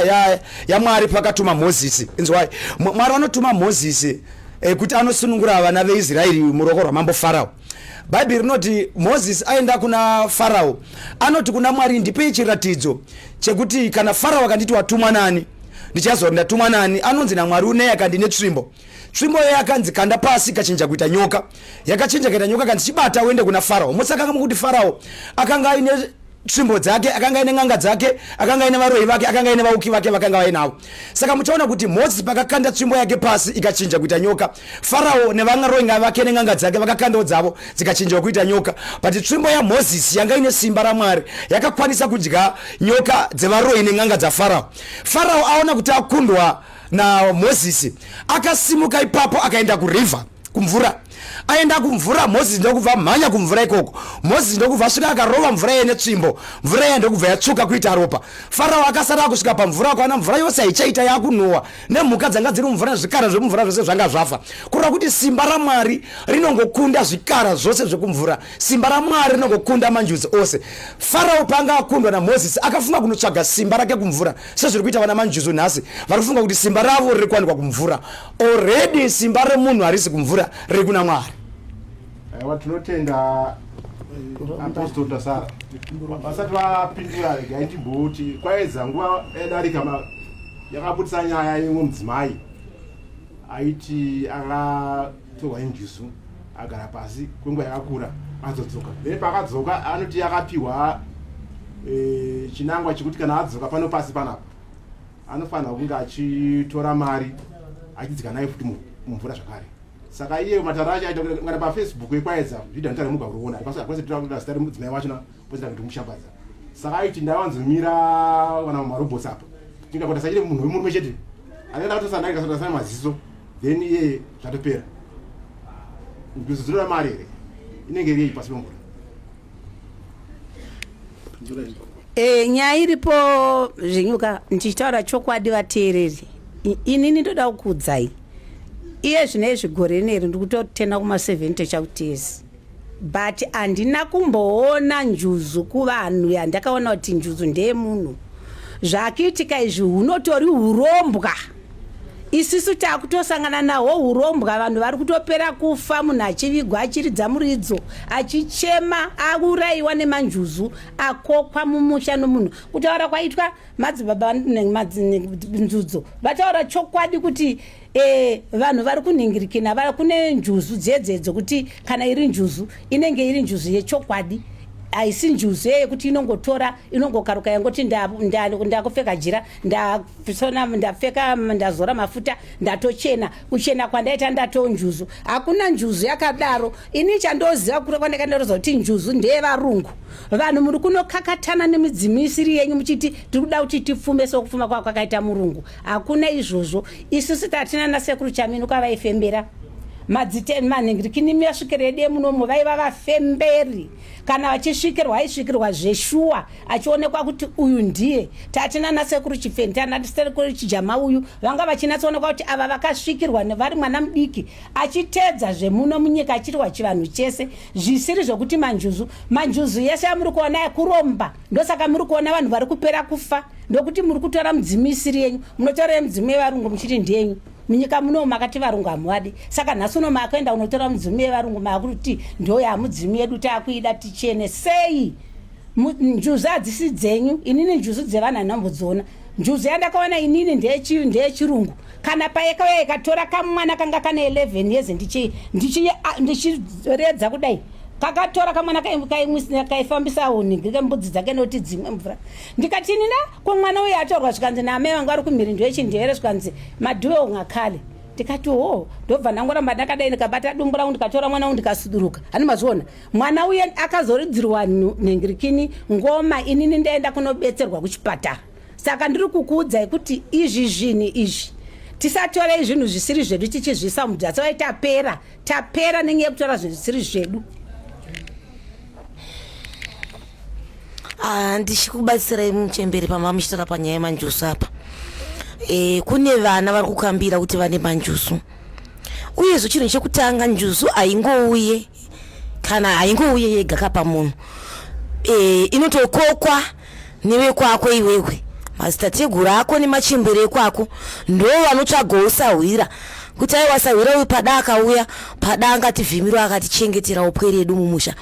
yamwari ya, ya pakatuma mozisi inzwai mwari vanotuma mozisi eh, kuti anosunungura vana veisraeri muruoko rwamambo farao Bhaibheri rinoti Mozisi aenda kuna Farao, anoti kuna Mwari, ndipei chiratidzo chekuti kana Farao akanditi watumwa nani ndichazoa ndatumwa nani. Anonzi naMwari uneyi akandi netsvimbo tsvimbo iyo yakanzi kanda pasi ikachinja kuita nyoka, yakachinja kuita nyoka, kanzi chibata uende kuna Farao. Mosakanga mukuti Farao akanga aine tsvimbo dzake akanga aine n'anga dzake akanga aine varoyi vake akanga aine vauki vake vakanga vainavo saka muchaona kuti mozisi pakakanda tsvimbo yake pasi ikachinja kuita nyoka farao nevangaroinga vake nen'anga dzake vakakandawo dzavo dzikachinjawo kuita nyoka but tsvimbo yamozisi yanga ine simba ramwari yakakwanisa kudya nyoka dzevaroyi nen'anga dzafarao farao aona kuti akundwa namozisi akasimuka ipapo akaenda kuriver kumvura aenda kumvura moses ndokubva mhanya kumvura ikoko moses ndokubva svika akarova mvura iye netsvimbo mvura iya ndokubva yatsvuka kuita ropa farao akasara akusvika pamvura akaona mvura yose haichaita yakunhuwa nemhuka dzanga dziri mumvura nezvikara zvemumvura zvose zvanga zvafa kureva kuti simba ramwari rinongokunda zvikara zvose zvekumvura simba ramwari rinongokunda manjuzi ose farao paanga akundwa namoses akafunga kunotsvaga simba rake kumvura sezviri kuita vana manjuzi nhasi vari kufunga kuti simba ravo riri kuwanikwa kumvura Already simba remunhu harisi kumvura riri kuna Mwari. Aiwa tinotenda eh, Apostle Tasara. Vasati vapindura regai timboti kwaedza nguva yadarika yakabudisa nyaya yemwe mudzimai aiti akatorwa injuzu agara pasi kwenguva yakakura azodzoka then paakadzoka anoti akapiwa e, chinangwa chekuti kana adzoka pano pasi panapa anofanirwa kunge achitora mari achidzika nayo futi mumvura zvakare saka iye matara acho aita kana pafacebook ekwaedza zvidha notara muga kuriona hapasi tirakuda zita remudzimai wachona poita kuti mushambadza saka aiti ndaiwanzomira kana marobots apa tingakuta sachiri munhu wemurume chete akaenda katosandaikasana maziso then iye zvatopera ndizozirora mari here inenge iriyi pasi pemvura E, nyaya iripo zvenyuka ndichitaura chokwadi vateereri inini ndoda kukuudzai iye zvine izvi gore neri ndikutotenda kuma70 chakutizi but handina kumboona njuzu kuvanhu yandakaona kuti njuzu ndeyemunhu zvakiitika izvi hunotori urombwa isisu takutosangana naho hurombwa vanhu vari kutopera kufa munhu achivigwa achiridza muridzo achichema aurayiwa nemanjuzu akokwa mumusha nomunhu kutaura kwaitwa madzibaba nzudzo vataura chokwadi kuti e, vanhu vari kunhingirikina va kune njuzu dzedzedzo kuti kana iri njuzu inenge iri njuzu yechokwadi haisi njuzu yeye kuti inongotora inongokaruka yangoti ndakupfeka jira ndasona ndapfeka ndazora mafuta ndatochena kuchena kwandaita ndato njuzu hakuna njuzu yakadaro ini chandoziva kure kwandaka ndaroza kuti njuzu ndeyevarungu vanhu muri kunokakatana nemidzimu isiri yenyu muchiti tiri kuda kuti tipfume sokupfuma kwava kwakaita murungu hakuna izvozvo isusu tatina nasekuru chamino kwavaifembera madziteni manhingirikini miyasvikiro yedu yemunomo vaiva vafemberi kana vachisvikirwa aisvikirwa zveshuwa achionekwa kuti uyu ndiye tati nana sekuru chipfeni tana sekuru chijama uyu vanga vachinatsoonekwa kuti ava vakasvikirwa vari mwana mudiki achitedza zvemuno munyika achirwa chivanhu chese zvisiri zvekuti manjuzu manjuzu yese yamuri kuona yekuromba ndosaka muri kuona vanhu vari kupera kufa ndokuti muri kutora mudzimu isiri yenyu munotora yemudzimu yevarungu muchiti ndiyenyu munyika muno makati varungu hamuvadi saka nhasi uno maakuenda unotora mudzimu yevarungu maakuti ndo yamudzimu yedu taakuida tichene sei njuzu hadzisi dzenyu inini njuzu dzevanhu hanhambodziona njuzu yandakaona inini ndeyechirungu kana payekauya ikatora kamwana kanga kane 11 years ndichiredza kudai kakatora kamwana kaimwisina kaifambisa hunhingi kembudzi dzake noti dzimwe mvura ndikati inina ko mwana uye atorwa zvikanzi naamai vanga vari kumhirindu yechindere zvikanzi madhuwe ungakhale ndikati hoo ndobva ndangoramba ndakadai ndikabata dumbu rangu ndikatora mwana wangu ndikasuduruka hani mazviona mwana uye akazoridzirwa nhingirikini ngoma inini ndaenda kunobetserwa kuchipatara saka ndiri kukuudzai kuti izvi zvinhu izvi tisatorei zvinhu zvisiri zvedu tichizvisa mudzatsi vai tapera tapera nenyaya yekutora zvinhu zvisiri zvedu ah, ndichikubatsirai muchemberi pamba muchitaura panyaya yemanjusu apa e, kune vana vari kukambira kuti vane manjusu uyezvo chinhu chekutanga njusu haingouye kana haingouye yega kapa munhu e, inotokokwa newe kwako iwewe mazitateguru ako nemachembere ekwako ndo vanotsvagawo sahwira kuti aiwa sahwira uyu pada akauya pada angativhimirwa akatichengetera upwe redu mumusha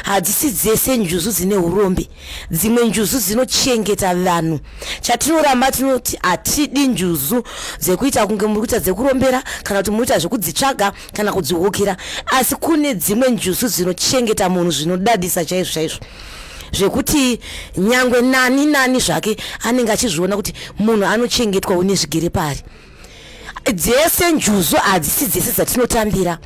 hadzisi dzese njuzu dzine urombe dzimwe njuzu dzinochengeta vanhu chatinoramba tinoti hatidi njuzu dzekuita kunge muri kuita dzekurombera kana kuti muri kuita zvekudzitsvaga kana kudzihukira asi kune dzimwe njusu dzinochengeta munhu zvinodadisa chaizvo chaizvo zvekuti nyangwe nani nani zvake anenge achizviona kuti munhu anochengetwa une zvigere pari dzese njuzu hadzisi dzese dzatinotambira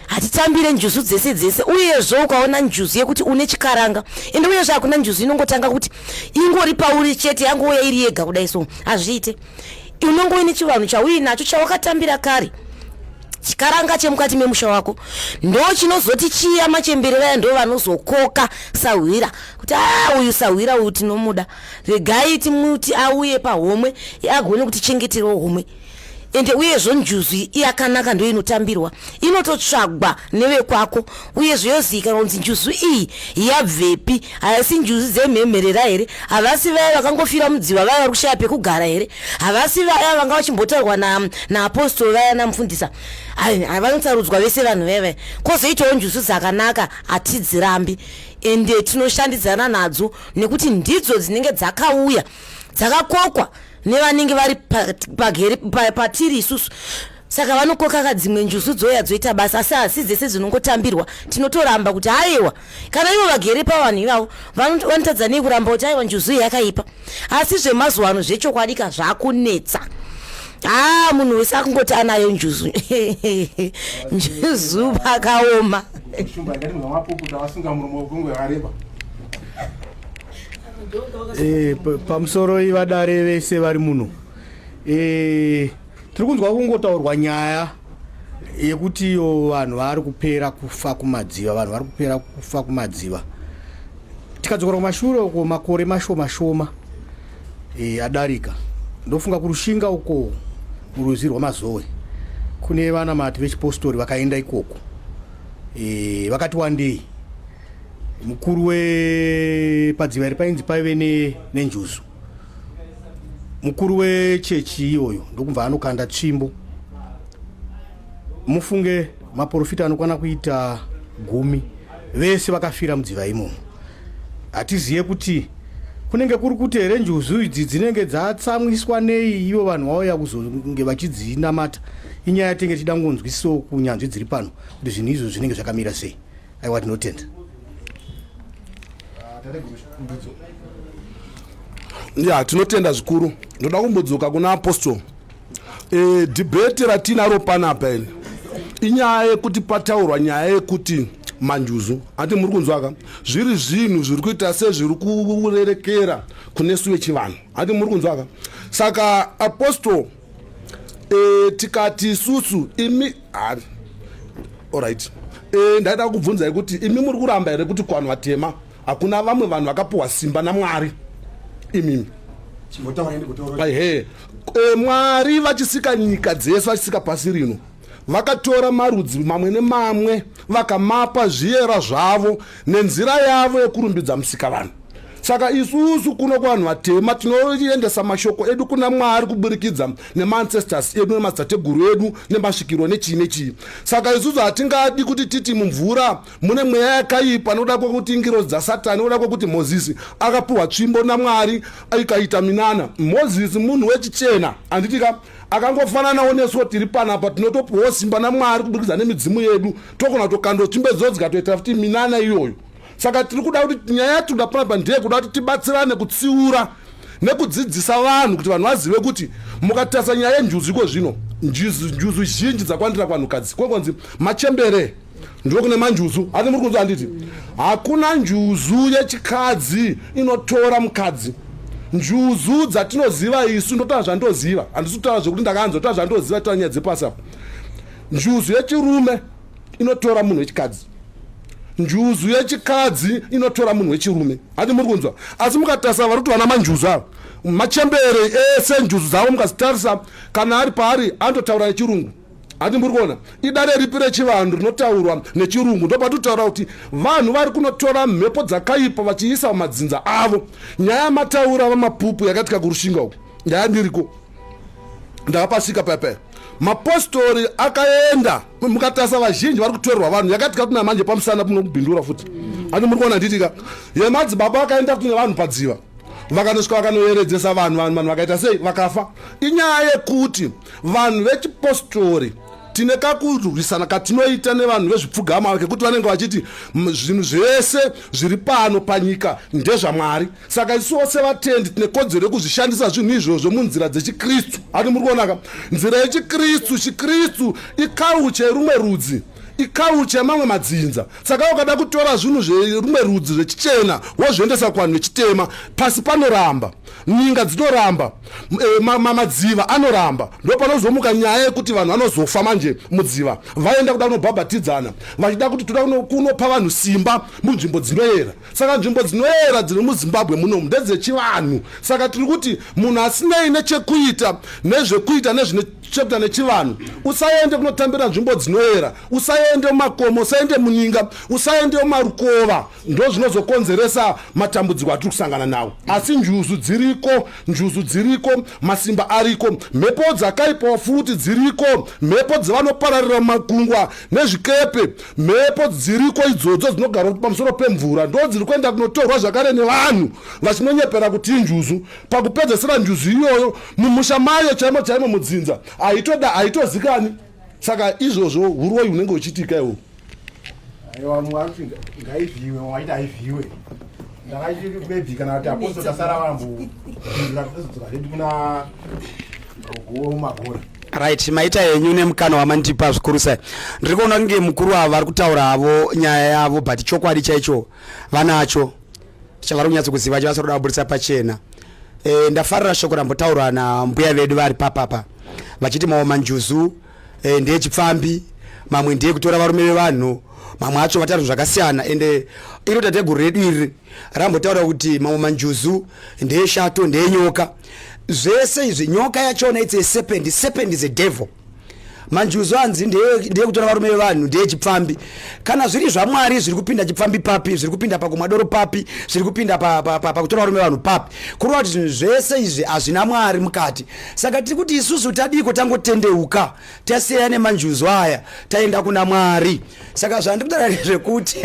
hatitambire njuzu dzese dzese uyezvo ukaona njuzu yekuti une chikaranga ende uyezvo hakuna njuzu inongotanga kuti ingori pauri chete yangouya iri yega kudai so hazviite unenge uine chivanhu chauinacho chawakatambira kare chikaranga chemukati memusha wako ndo chinozoti chiya machemberera ya ndo vanozokoka sahwira kuti a uyu sahwira uyu tinomuda regai timuti auye pahomwe agone kuti chengeterwa homwe ende uyezvo njuzu yakanaka ndo inotambirwa inototsvagwa nevekwako uyezve yozivikanwa kunzi njuzu iyi yabvepi haisi njuzu dzemhemherera here havasi vaya vakangofira mudziva vaya vari kushaya pekugara here havasi vaya vanga vachimbotaurwa naapostoro na vaya namufundisa vanosarudzwa vese vanhu vaya vaya kwozoitawo njuzu dzakanaka hatidzirambi ende tinoshandidzana nadzo nekuti ndidzo dzinenge dzakauya dzakakokwa nevanenge vari pageri pa, pa, patiri isusu saka vanokokaka dzimwe njuzu dzoya dzoita basa asi hasi dzese dzinongotambirwa tinotoramba kuti haiwa kana ivo vagere pavanhu ivavo vanotadza nei kuramba kuti aiwa njuzu yakaipa asi zvemazuva ano zvechokwadika zvakunetsa haa ah, munhu wese akungoti anayo njuzu njuzu pakaoma eh, pamusoro ivadare vese vari muno eh, tiri kunzwa kungotaurwa nyaya yekuti iyo vanhu vari kupera kufa kumadziva vanhu vari kupera kufa kumadziva tikadzokera kumashure uko makore mashoma shoma e, adarika ndofunga kurushinga uko muruzi rwamazowe kune vanamati vechipostori vakaenda ikoko e, vakati wandei mukuru wepadziva iri painzi paive nenjuzu mukuru wechechi iyoyo ndokubva anokanda tsvimbo mufunge maporofita anokwana kuita gumi vese vakafira mudziva imomo hatizive kuti kunenge kuri kuti here njuzu idzi dzinenge dzatsamwiswa nei ivo vanhu vauya kuzonge vachidzinamata inyaya tenge tichida kungonzwisisawo kunyanzvi dziri pano kuti zvinhu izvo zvinenge zvakamira sei aiwa tinotenda ya tinotenda zvikuru ndoda kumbodzoka kuna apostol e, eh, dhibheti ratinaro panapa ini inyaya yekuti pataurwa nyaya yekuti manjuzu ati muri kunzwaka zviri zvinhu zviri kuita sezviri kurerekera kune su vechivanhu ati muri kunzwaka saka apostol e, tikati isusu imi hari orit e, eh, ndaida kubvunzai kuti imi muri kuramba here kuti kuvanhu vatema hakuna vamwe vanhu vakapiwa simba namwari imimi he e, mwari vachisika nyika dzese vachisika pasi rino vakatora marudzi mamwe nemamwe vakamapa zviyera zvavo nenzira yavo yekurumbidza musika vanhu saka isusu kuno kuvanhu vatema tinoendesa mashoko edu kuna mwari kuburikidza nemaancestors edu nemadzitateguru edu nemasvikiro nechii nechii saka isusu hatingadi kuti titi mumvura mune mweya yakaipa noda kwekuti ingirozi dzasatani oda kwekuti mozisi akapiwa tsvimbo namwari ikaita minana mozisi munhu wechichena handitika akangofananawo nesuwo tiri panapa tinotopiwawo simba namwari kuburikidza nemidzimu yedu tokona kutokando chimbedzo dzikatoita futi minana iyoyo saka tiri kuda kuti nyaya yatinoda panapa ndeye kuda kuti tibatsirane kutsiura nekudzidzisa vanhu kuti vanhu vazive kuti mukatarisa nyaya yenjuzu iko zvino njuzu zhinji dzakwandira kwanhukadzi kwekonzi machembere ndokune manjuzu hati muri kunzwa handiti hakuna njuzu yechikadzi inotora mukadzi njuzu dzatinoziva isu ndotaura zvandoziva handisi kutaura zvekuti ndakanzwa taura zvandoziva taura nyaya dzepasi apo njuzu yechirume inotora munhu wechikadzi njuzu yechikadzi inotora munhu wechirume hati muri kunzwa asi mukatarisa vari kuti vana manjuzu ava machembere ese njuzu dzavo mukazitarisa kana ari paari anototaura nechirungu hati muri kuona idare ripi rechivanhu rinotaurwa nechirungu ndopatotaura kuti vanhu vari kunotora mhepo dzakaipa vachiisa pamadzinza avo nyaya mataura vamapupu yakaitika kurushinga uku nyaya ndiriko ndakapasvika payapaya mapostori akaenda mukatasa vazhinji vari kutorerwa vanhu yakaitika kuti namanje pamusana punokubhindura futi ani muri kuona ndiitika yemadzibaba akaenda kuti nevanhu padziva vakanosvika vakanoyeredzesa vanhu vanhu vanhu vakaita sei vakafa inyaya yekuti vanhu vechipostori tine kakurwisana katinoita nevanhu vezvipfugama kekuti vanenge vachiti zvinhu zvese zviri pano panyika ndezvamwari saka isu vose vatendi tine kodzero yekuzvishandisa zvinhu izvozvo munzira dzechikristu ati muri kuonaka nzira yechikristu chikristu ikauche rumwe rudzi ikauche mamwe madzinza saka ukada kutora zvinhu zverumwe rudzi zvechichena wozviendesa kuvanhu vechitema pasi panoramba nyinga dzinoramba eh, madziva anoramba ndopanozomuka nyaya yekuti vanhu vanozofa manje mudziva vaenda kuda kunobhabhatidzana vachida kuti toda kunopa vanhu simba munzvimbo dzinoyera saka nzvimbo dzinoyera dziri muzimbabwe munomu ndedzechivanhu saka tiri kuti munhu asinei nechekuita nezvekuita nezvine chekuita nechivanhu usaende kunotambira nzvimbo dzinoyera usaende mumakomo usaende muninga usaende mumarukova ndozvinozokonzeresa matambudziko atiri kusangana nawo asi njuzu dziriko njuzu dziriko masimba ariko mhepo dzakaipawo futi dziriko mhepo dzevanopararira mumakungwa nezvikepe mhepo dziriko idzodzo dzinogara pamusoro pemvura ndo dziri kuenda kunotorwa zvakare nevanhu vachinonyepera kuti injuzu pakupedzesera njuzu iyoyo mumusha mayo chaimo chaimo mudzinza haitoda haitozikani saka izvozvo uroyi unenge uchiitika iwo Aiwa vamwe vari kuti ngaivhiwe vamwe vachiti haivhiwe ndakachiri maybe kana kuti aposto tasara vamboinzira totozodzoka zvedu kuna gogo magora right maita henyu nemukana wamandipa zvikuru sai ndiri kuona kunge mukuru avo vari kutaura havo nyaya yavo but chokwadi chaicho vanacho chavari kunyatso kuziva chavasiri kuda kuburitsa pachena e, ndafarira shoko rambotaurwa nambuya vedu vari papapa vachiti maomanjuzu e, ndeyechipfambi mamwe ndiye kutora varume vevanhu mamwe acho vataura zvakasiyana ende iro tateguru redu iri rambotaura kuti mamwe manjuzu ndeyeshato ndeyenyoka zvese izvi nyoka yachona its a serpent serpent is a devil manjuzu anzi ndeye kutora varume vevanhu ndeye chipfambi kana zviri zvamwari zviri kupinda chipfambi papi zviri kupinda pakumwa doro papi zviri kupinda pakutora varume vevanhu papi kureva kuti zvinhu zvese izvi hazvina mwari mukati saka tiri kuti isusu tadiiko tangotendeuka taseya nemanjuzu aya taenda kuna mwari saka zvandiri kutaura ndezvekuti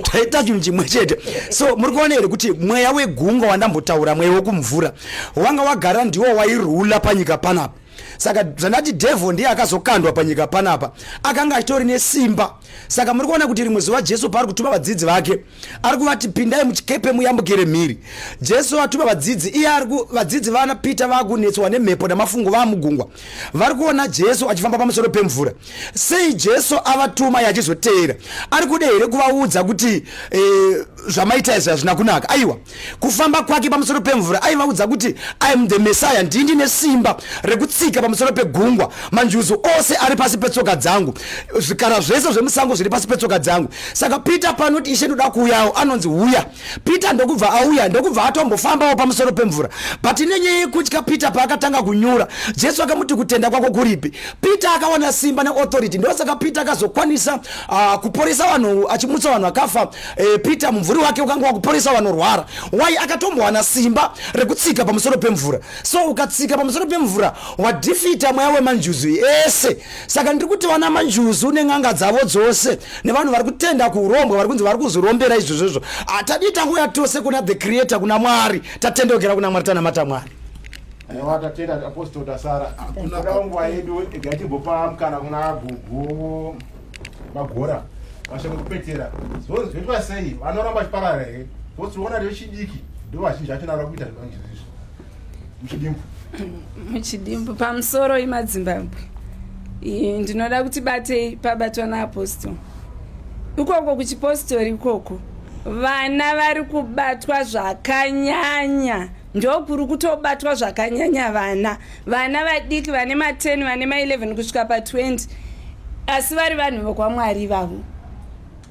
taita chinhu chimwe chete so muri kuona here kuti mweya wegungwa wandambotaura mweya wekumvura wanga wagara ndiwo wairula panyika panapa saka zvandati devil ndiye akazokandwa panyika panapa akanga achitori nesimba saka muri kuona kuti rimwe zuva jesu paari kutuma vadzidzi vake ari kuvati pindai muchikepe muyambukire mhiri jesu atuma vadzidzi iye ari vadzidzi vana peter vakunetswa nemhepo namafungo vaamugungwa vari kuona jesu achifamba pamusoro pemvura sei jesu avatuma yachizoteera ari kuda here kuvaudza kuti eh, zvamaita izvi hazvina kunaka aiwa kufamba kwake pamusoro pemvura aivaudza kuti iam the messiah ndii ndine simba rekutsika pamusoro pegungwa manjuzu ose ari pasi petsoka dzangu zvikara zvese zvemusango zviri pasi petsoka dzangu saka peter panoti ishe ndoda kuuyawo anonzi huya peter ndokubva auya ndokubva atombofambawo pamusoro pemvura but nenyaya yekutya peter paakatanga kunyura jesu akamuti kutenda kwako kuripi peter akawana simba neauthority ndosaka peter akazokwanisa uh, kuporesa vanhu achimutsa vanhu akafa E, peter mumvuri wake ukanga wakuporesa vanorwara why akatombowana simba rekutsika pamusoro pemvura so ukatsika pamusoro pemvura wadhifita mweya wemanjuzu ese saka ndiri kuti vana manjuzu nen'anga dzavo dzose nevanhu vari kutenda kuurombwa vari kunzi vari kuzvirombera izvozvozvo hatadii tangouya tose kuna the creator kuna mwari tatendokera kuna mwari tanamata mwari aiwa tatenda apostol tasara hakuna nguva yedu igatigopa mukana kuna gugu magora mashoko kupetera zvose zvoitwa sei vanoramba chiparara here zvose tinoona rechidiki ndo vazhinji vacho navara kuita zvivanjizizvo muchidimbu muchidimbu pamusoro imadzimbabwe ndinoda kuti batei pabatwa naapostle ikoko kuchipostori ikoko vana vari kubatwa zvakanyanya ndokuri kutobatwa zvakanyanya vana vana vadiki vane ma 10 vane ma 11 kusvika pa 20 asi vari vanhu vokwamwari ivavo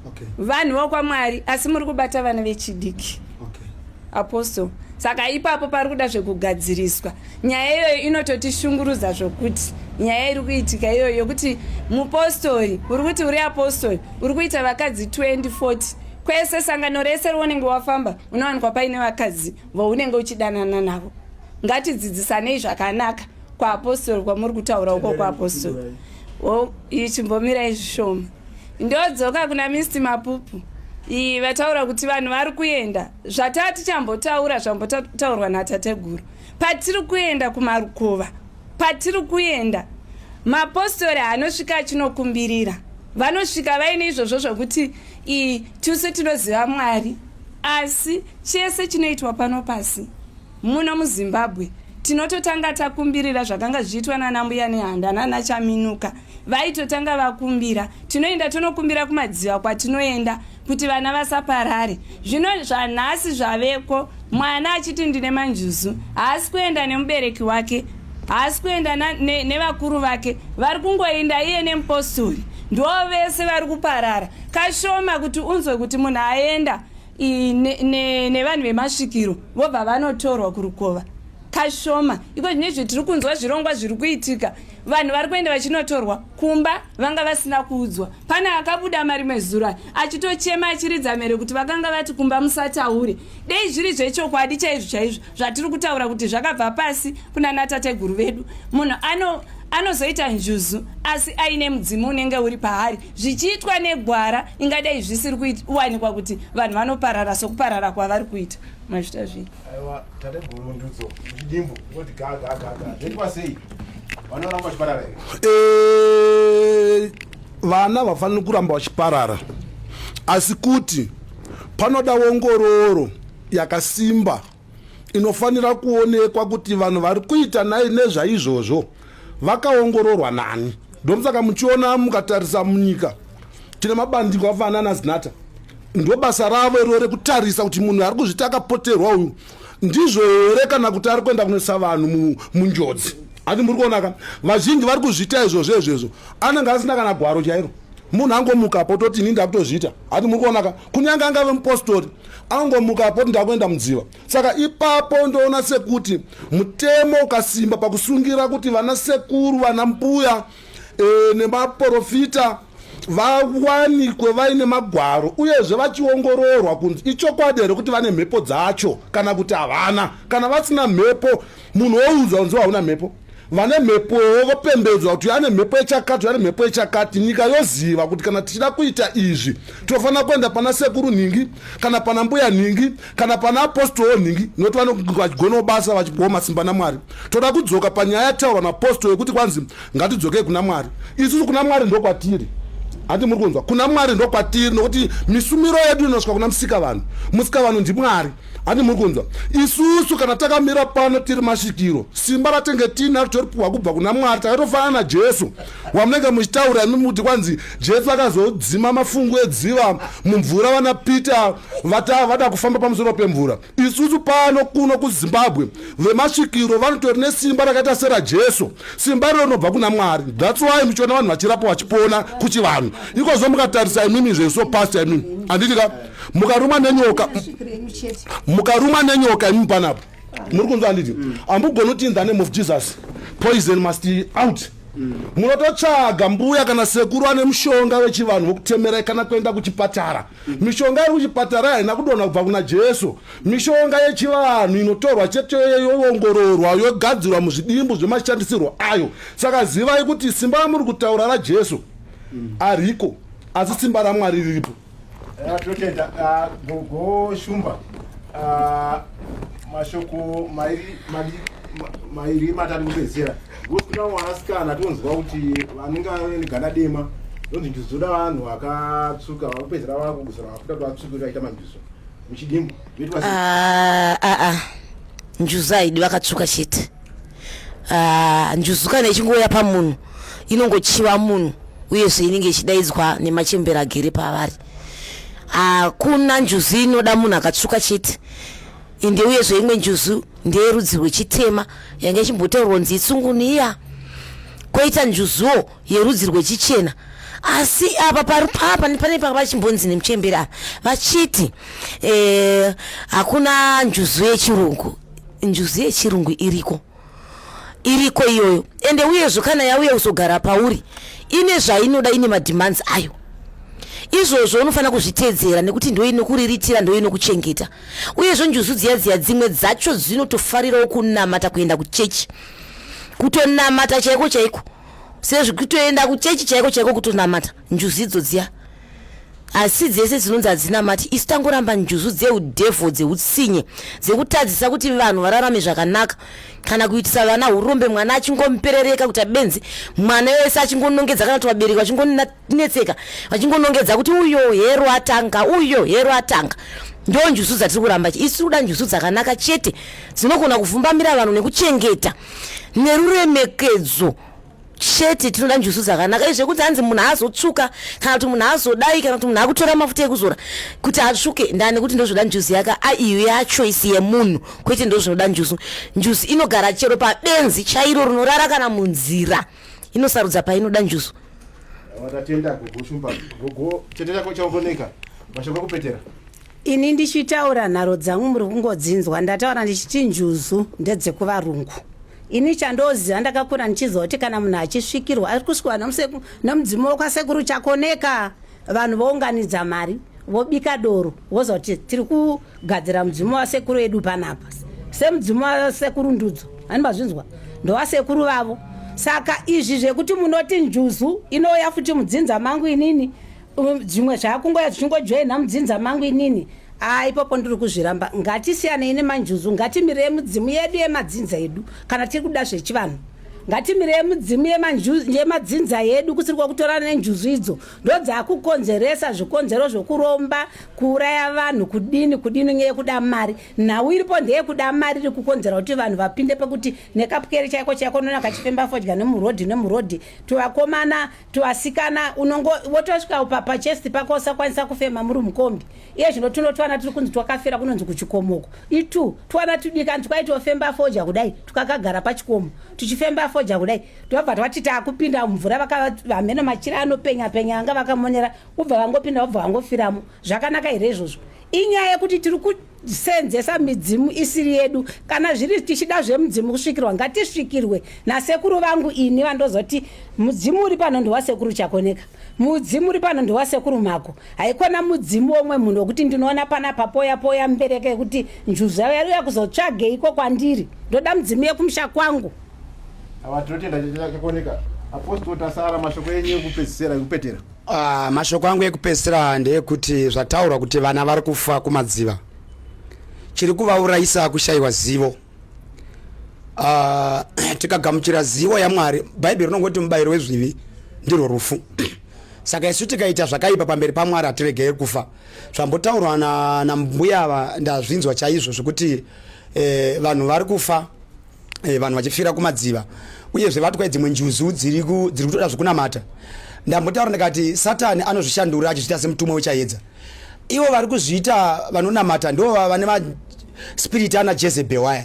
okay. vanhu vokwamwari asi muri kubata vana vechidiki okay. apostle saka ipapo pari kuda zvekugadziriswa nyaya iyoyo inototishungurudza zvokuti nyaya iri kuitika iyoyo yokuti mupostori uri kuti uri apostori uri kuita vakadzi 2040 kwese sangano rese rounenge wafamba unowanikwa paine vakadzi vounenge uchidanana navo ngatidzidzisanei zvakanaka kwaapostori kwamuri kutaura uko kwaapostori ichimbomirai zvishoma ndodzoka kuna misti mapupu iyi vataura kuti vanhu vari kuenda zvataa tichambotaura zvambotaurwa natateguru patiri kuenda kumarukova patiri kuenda mapostori anosvika achinokumbirira vanosvika vaine izvozvo zvekuti ii tuse tinoziva mwari asi chese chinoitwa pano pasi Muno muZimbabwe tinototanga takumbirira zvakanga zvichiitwa nana mbuya nehanda nana chaminuka vaitotanga vakumbira tinoenda tonokumbira kumadziva kwatinoenda kuti vana vasaparare zvino zvanhasi zvaveko mwana achiti ndine manjuzu haasi kuenda nemubereki wake haasi kuenda nevakuru ne, ne vake vari kungoenda iye nemupostori ndo vese vari kuparara kashoma kuti unzwe kuti munhu aenda nevanhu vemasvikiro vobva vanotorwa kurukova kashoma iko zvine zve tiri kunzwa zvirongwa zviri kuitika vanhu vari kuenda vachinotorwa kumba vanga vasina kuudzwa pane akabuda marimwe zura achitochema achiridza mhere kuti vakanga vati kumba musataure dei zviri zvechokwadi chaizvo chaizvo zvatiri kutaura kuti zvakabva pasi kuna natateguru vedu munhu ano anozoita njuzu asi aine mudzimu unenge uri paari zvichiitwa negwara ingadai zvisiri kuwanikwa kuti vanhu vanoparara sokuparara kwavari kuita mazvita zvii aiwa tate gurundudzo chidimbu oti gagagaga zvoitwa sei vanoramba vachiparara here eh, vana vafaniri kuramba vachiparara asi kuti panoda ongororo yakasimba inofanira kuonekwa kuti vanhu vari kuita nai nezvaizvozvo vakaongororwa nani ndomsaka muchiona mukatarisa munyika tine mabandiko afanana zinata ndobasa ravo iroo rekutarisa kuti munhu ari kuzviti akapoterwa uyu ndizvo here kana kuti ari kuenda kunoisa vanhu munjodzi ati muri kuonaka vazhinji vari kuzviita izvozvo izvezvo anenge asina kana gwaro chairo munhu angomuka pototi ini ndakutozviita ati muri kuonaka kunyange angave mupostori angomuka apo kuti ndakuenda mudziva saka ipapo ndoona sekuti mutemo ukasimba pakusungira kuti vana sekuru vana mbuya e, nemaporofita vawanikwe vaine magwaro uyezve vachiongororwa kunzi ichokwadi here kuti vane mhepo dzacho kana kuti havana kana vasina mhepo munhu woudzwa kunzi hauna mhepo vane mhepowo vopembedzwa kuti ane mhepo yechakati ane mhepo yechakati nyika yoziva kuti kana tichida kuita izvi tinofanira kuenda pana sekuru nhingi kana pana mbuya nhingi kana pana apostoro nhingi nokuti vanonge vachigonawo basa vachipiwa masimba namwari toda kudzoka panyaya yataurwa naapostoro yekuti kwanzi ngatidzokei kuna mwari isusu kuna mwari ndokwatiri handi muri kunzwa kuna mwari ndokwatiri nokuti misumiro yedu inosvika kuna musika vanhu musika vanhu ndimwari handi muri kunzwa isusu kana takamira pano tiri masvikiro simba ratenge tiinaro toripiwa kubva kuna mwari takatofanana najesu wamunenge muchitaura imi muti kwanzi jesu akazodzima mafungu edziva mumvura vana peter vata vada kufamba pamusoro pemvura isusu pano kuno kuzimbabwe vemasvikiro vanotori nesimba rakaita serajesu simba iro rinobva kuna mwari that's why muchiona vanhu vachirapa vachipona kuchivanhu ikozvo mukatarisa imimi zveso past imimi handiti ka mukaruma nenyoka mukaruma nenyoka imi panapo muri kunzwa handiti mm. ambugoni kuti in the name of jesus poison must out mm. munototsvaga mbuya kana sekuru ane mushonga wechivanhu wokutemerai kana kuenda kuchipatara mm. mishonga iri kuchipatara haina kudonha kubva kuna jesu mishonga yechivanhu inotorwa chete yoongororwa yogadzirwa muzvidimbu zvemashandisirwo ayo saka zivai kuti simba ramuri kutaura rajesu ariko asi simba ramwari riripo Eh, totenda ah, gogo shumba ah, mashoko mairi matari kupedzera ngosi kuna mwanasikana tonzwa kuti vanenge vane gana dema ndonzi njuzu dzoda vanhu vakatsvuka vakupedzera vakuguzira vakuda kuti vatsvuke vaita manjuzu muchidimbu njuzu haidi vakatsvuka chete Ah, njuzu kana ichingouya pamunhu inongochiva munhu uyezve inenge ichidaidzwa nemachembera agere pavari hakuna njuzu inoda munhu akatsvuka chete ende uyezve imwe njuzu ndeyerudzi rwechitema yange ichimbotaurwa nzi itsunguniya koita njuzuwo yerudzi rwechichena asi apa pari papa pane paka vachimbonzi nemuchembera vachiti eh, hakuna njuzu yechirungu njuzu yechirungu iriko iriko iyoyo ende uyezvo kana yauya kuzogara pauri ine zvainoda ine mademands ayo izvozvo unofanira kuzviteedzera nekuti ndoinokuriritira ndoinokuchengeta uyezvo njuzu dziya dziya dzimwe dzacho dzinotofarirawo kunamata kuenda kuchechi kutonamata chaiko chaiko sezvekutoenda kuchechi chaiko chaiko kutonamata njuzu idzo dziya asi dzese dzinonzi hadzinamati isu tangoramba njuzu dzeudevho dzeutsinye dzekutadzisa kuti vanhu vararame zvakanaka kana kuitisa vana urombe mwana achingomuperereka kuita benzi mwana wese achingonongedza kana kuti vabereki vachingonetseka vachingonongedza kuti uyo hero atanga uyo hero atanga ndo njuzu dzatiri kuramba isu kuda njuzu dzakanaka chete dzinogona kufumbamira vanhu nekuchengeta neruremekedzo chete tinoda njuzu dzakanaka izve kunzi hanzi munhu aazotsvuka kana kuti munhu aazodai kana kuti munhu akutora mafuta ekuzora kuti atsvuke ndani kuti ndozvoda njuzu yaka aiyo yachoisi yemunhu kwete ndozvinoda njuzu njuzu inogara chero pabenzi chairo rinorara kana munzira inosarudza painoda njuzu watatenda gogo shumba gogo tete chako chaongoneka mashoko ekupetera Ini ndichitaura nharo dzangu muri kungodzinzwa ndataura ndichiti njuzu ndedzekuvarungu. Ini chandoziva ndakakura ndichiziva kuti kana munhu achisvikirwa ari kusvikirwa nomudzimu wekwasekuru chakoneka vanhu vounganidza mari vobika doro voziva kuti tiri kugadzira mudzimu wasekuru edu panapa semudzimu wasekuru ndudzo ani mazvinzwa ndowasekuru vavo saka izvi zvekuti munoti njuzu inouya futi mudzinza mangu inini Um, dzimwe zvaakungoya zvichingojoina mudzinza mangu inini aa ah, ipapo ndiri kuzviramba ngatisiyanei nemanjuzu ngatimirei mudzimu yedu yemadzinza edu kana tiri kuda zvechivanhu ngatimirei mudzimu yemadzinza yedu kusiri kwakutorana nenjuzu idzo ndodzaakukonzeresa zvikonzero zvokuromba kuuraya vanhu kudini kudini nyaya yekuda mari nhau iripo ndeyekuda mari iri kukonzera kuti vanhu vapinde pekuti nekapwere chaiko chaiko nona kachifemba fodya nemurodhi nemurodhi tivakomana tuasikana unongo wotosvika papa chest pako usakwanisa kufema muri mukombi iye zvino tuno twana tiri kunzi twakafira kunonzi kuchikomoko itu twana tudika nzi kwaiti ofemba foja kudai tukakagara pachikomo tuchifemba foja kudai tobva twati taakupinda mumvura vakavamheno machira anopenya penya anga vakamonera ubva vangopinda ubva vangofiramo zvakanaka here izvozvo inyaya yekuti tiri kuti seenzesa midzimu isiri yedu kana zviri tichida zvemudzimu kusvikirwa ngatisvikirwe nasekuru vangu ini vandozoti mudzimu uri pano ndiwasekuru chakoneka mudzimu uri pano ndiwasekuru mako haikona mudzimu womwe munhu wekuti ndinoona pana papoya poya mbereke yekuti njuzu yavo yari uya kuzotsvageiko kwandiri ndoda mudzimu yekumusha kwangu awa tinotenda chakoneka apostol tasara mashoko enyu ekupedzisira ekupetera Uh, mashoko angu ekupedzisira ndeekuti zvataurwa kuti vana vari kufa kumadziva chiri kuvaurayisa kushayiwa zivo uh, tikagamuchira zivo yamwari bhaibheri rinongoti mubayiro wezvivi ndirwo rufu saka isu tikaita zvakaipa pamberi pamwari hatiregeri kufa zvambotaurwa nambuya na ava ndazvinzwa chaizvo zvekuti eh, vanhu vari kufa eh, vanhu vachifira kumadziva uyezve vatwa dzimwe njuzu dziri kutoda zvekunamata ndambotaura ndikati satani anozvishandura achizviita semutumwa wechayedza ivo vari kuzviita vanonamata ndo vane maspiriti ana jezebel waya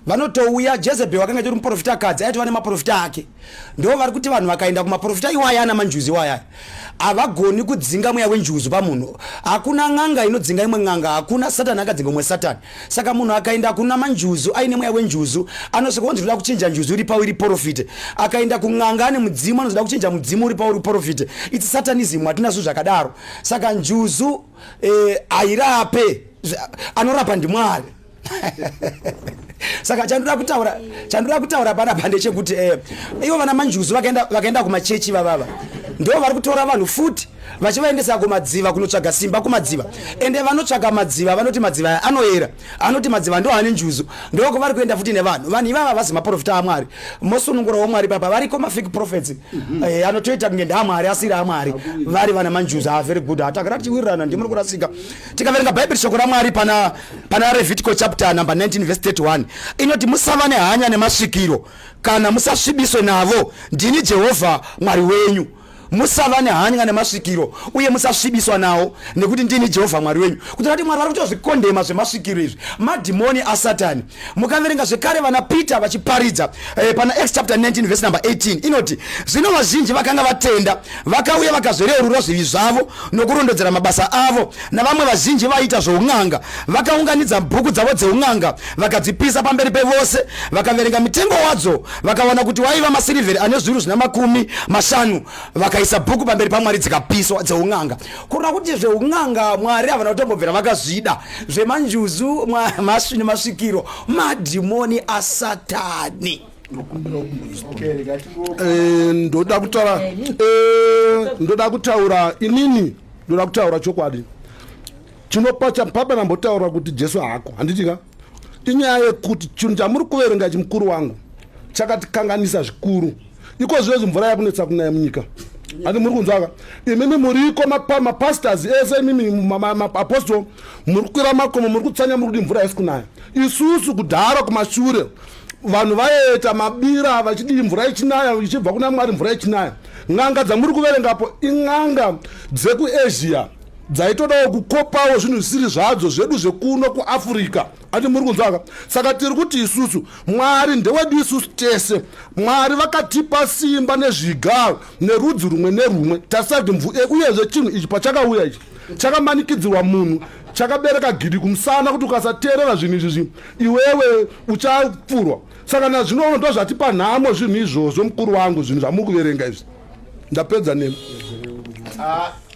vanotouya jezebel wakanga itori muprofita kadzi aitova nemaprofita ake ndo vari kuti vanhu vakaenda kumaprofita iwaya ana manjuzi iwaya havagoni kudzinga mweya wenjuzu pamunhu hakuna n'anga inodzinga imwe n'anga hakuna satani akadzinga umwe satani Saka munhu akaenda kuna manjuzu aine mweya wenjuzu anosvika onzi ndoda kuchinja njuzu iri pauri porofite. Akaenda kun'anga ane mudzimu anonzi ndoda kuchinja mudzimu uri pauri porofite. It's satanism hatina zvinhu zvakadaro. Saka njuzu eh, hairape anorapa ndimwari. saka chandoda kutaura chandoda kutaura panapa ndechekuti eh, ivo vana manjuzu vakaenda vakaenda kumachechi vavava ndo vari kutora vanhu futi vachivaendesa kumadziva kunotsvaga simba kumadziva ende vanotsvaga madziva vanoti madziva aya anoyera anoti madziva ndo ane njuzu ndoko vari kuenda futi nevanhu vanhu ivava vasi maprofita amwari mosunungura wamwari papa variko mafik profets mhm. eh, anotoita kunge ndamwari asiri amwari vari vana manjuzu aa ah, very good hatakada tichiwirirana ndimuri kurasika tikaverenga bhaibheri shoko ramwari pana pana revitico chapter number 19 vese 31 inoti musava nehanya nemasvikiro kana musasvibiswe navo ndini jehovha mwari wenyu musava nehanya nemasvikiro uye musasvibiswa nawo nekuti ndini jehovha mwari wenyu kutora kuti mwari vari kutozvikondema zvemasvikiro izvi madhimoni asatani mukaverenga zvekare vana peter vachiparidza eh, pana x chapter 19 vese number 18 inoti zvino vazhinji vakanga vatenda vakauya vakazvereurura zvivi zvavo nokurondedzera mabasa avo navamwe vazhinji vaiita zvoun'anga vakaunganidza bhuku dzavo dzeun'anga vakadzipisa pamberi pevose vakaverenga mitengo wadzo vakawana kuti waiva masirivheri ane zviuru zvina makumi mashanu vakaisa bhuku pamberi pamwari dzikapiswa dzeun'anga kurona kuti zveun'anga mwari havana kutombobvira vakazvida zvemanjuzu masvini masvikiro madhimoni asatani eh, ndoda kutaura eh, ndoda kutaura inini ndoda kutaura chokwadi chinopa chapapa nambotaura kuti jesu haako handitika inyaya yekuti chinhu chamuri kuverenga ichi mukuru wangu chakatikanganisa zvikuru iko zvinezvi mvura yakunetsa kunaya munyika ati muri kunzwaka imimi muriko mapastors ese imimi maapostol muri kukwira makomo muri kutsanya muri kuti mvura haisi kunaya isusu kudhara kumashure vanhu vaita mabira vachidii mvura ichinaya ichibva kuna mwari mvura ichinaya n'anga dzamuri kuverengapo in'anga dzekuasia dzaitodawo kukopawo zvinhu zvisiri zvadzo zvedu zvekuno kuafrica ati muri kunzwaka saka tiri kuti isusu mwari ndewedu isusu tese mwari vakatipa simba nezvigaro nerudzi rumwe nerumwe tasati mvu e uyezve chinhu ichi pachakauya ichi chakamanikidzirwa munhu chakabereka gidi kumusana kuti ukasateerera zvinhu izvi zvi iwewe uchapfurwa saka nazvino uno ndozvatipa nhamo zvinhu izvozvo mukuru wangu zvinhu zvamuri kuverenga izvi ndapedza nemi ah.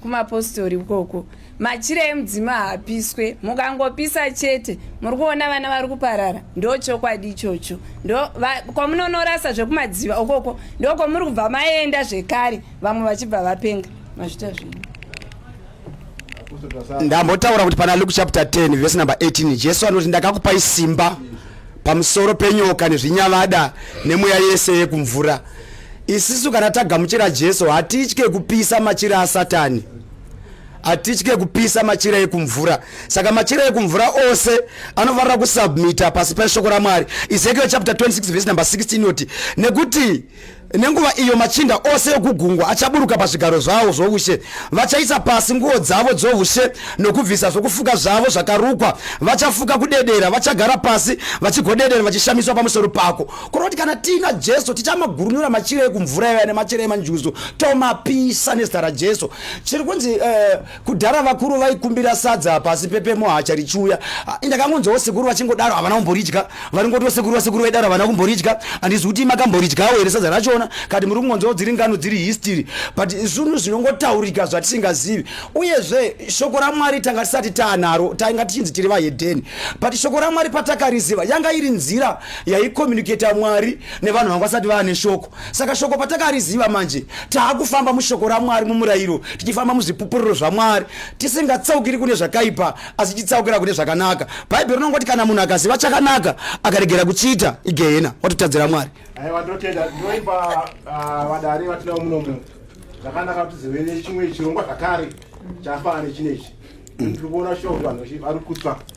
kumapostori ukoko machira emudzima haapiswe mukangopisa chete muri kuona vana vari kuparara ndo chokwadi ichocho ndo kwamunonorasa zvekumadziva ukoko ndo kwamuri kubva maenda zvekare vamwe vachibva vapenga mazvita zvenyu ndambotaura kuti pana luke chapter 10 vese number 18 jesu anoti ndakakupai simba pamusoro penyoka nezvinyavada nemweya yese yekumvura isisu kana tagamuchira jesu hatitye kupisa machira asatani hatitye kupisa machira ekumvura saka machira ekumvura ose anofanira kusubmita pasi peshoko ramwari ezekiel chapter 26 vhesi number 16 inoti nekuti Nenguva iyo machinda ose okugungwa achaburuka pazvigaro zvawo zvoushe, vachaisa pasi nguo dzavo dzoushe nokubvisa zvokufuka zvavo zvakarukwa, vachafuka kudedera, vachagara pasi vachigodedera vachishamiswa pamusoro pako. Kureva kuti kana tiina Jesu tichamagurunura machira ekumvura iva nemachira emanjuzu tomapisa nezita raJesu. Chiri kunzi uh, kudhara vakuru vaikumbira sadza pasi pepemo hacha richiuya ah, ndakangonzwawo sekuru vachingodaro havana kumboridya varingotiwo sekuru vasekuru vaidaro havana kumboridya handizi kuti makamboridyawo here sadza rachona kati muri kungonzwawo dziri ngano dziri history but zvinhu zvinongotaurika zvatisingazivi uyezve shoko ramwari tanga tisati taanaro tainga tichinzi tiri vahedheni but shoko ramwari patakariziva yanga iri nzira yaicommunicata mwari nevanhu vanga vasati vaane shoko saka shoko patakariziva manje taakufamba mushoko ramwari mumurayiro tichifamba muzvipupuriro zvamwari tisingatsaukiri kune zvakaipa asi titsaukira kune zvakanaka bhaibheri rinongoti kana munhu akaziva chakanaka akaregera kuchiita igehena watotadzira mwari aiwa ndotenda ndinoipa ah, vadari vatinawo munomu zvakanaka kuti zivene chimwe chirongwa zvakare chafanana nechinechi ndiri kuona shoko vanhu vari kutsva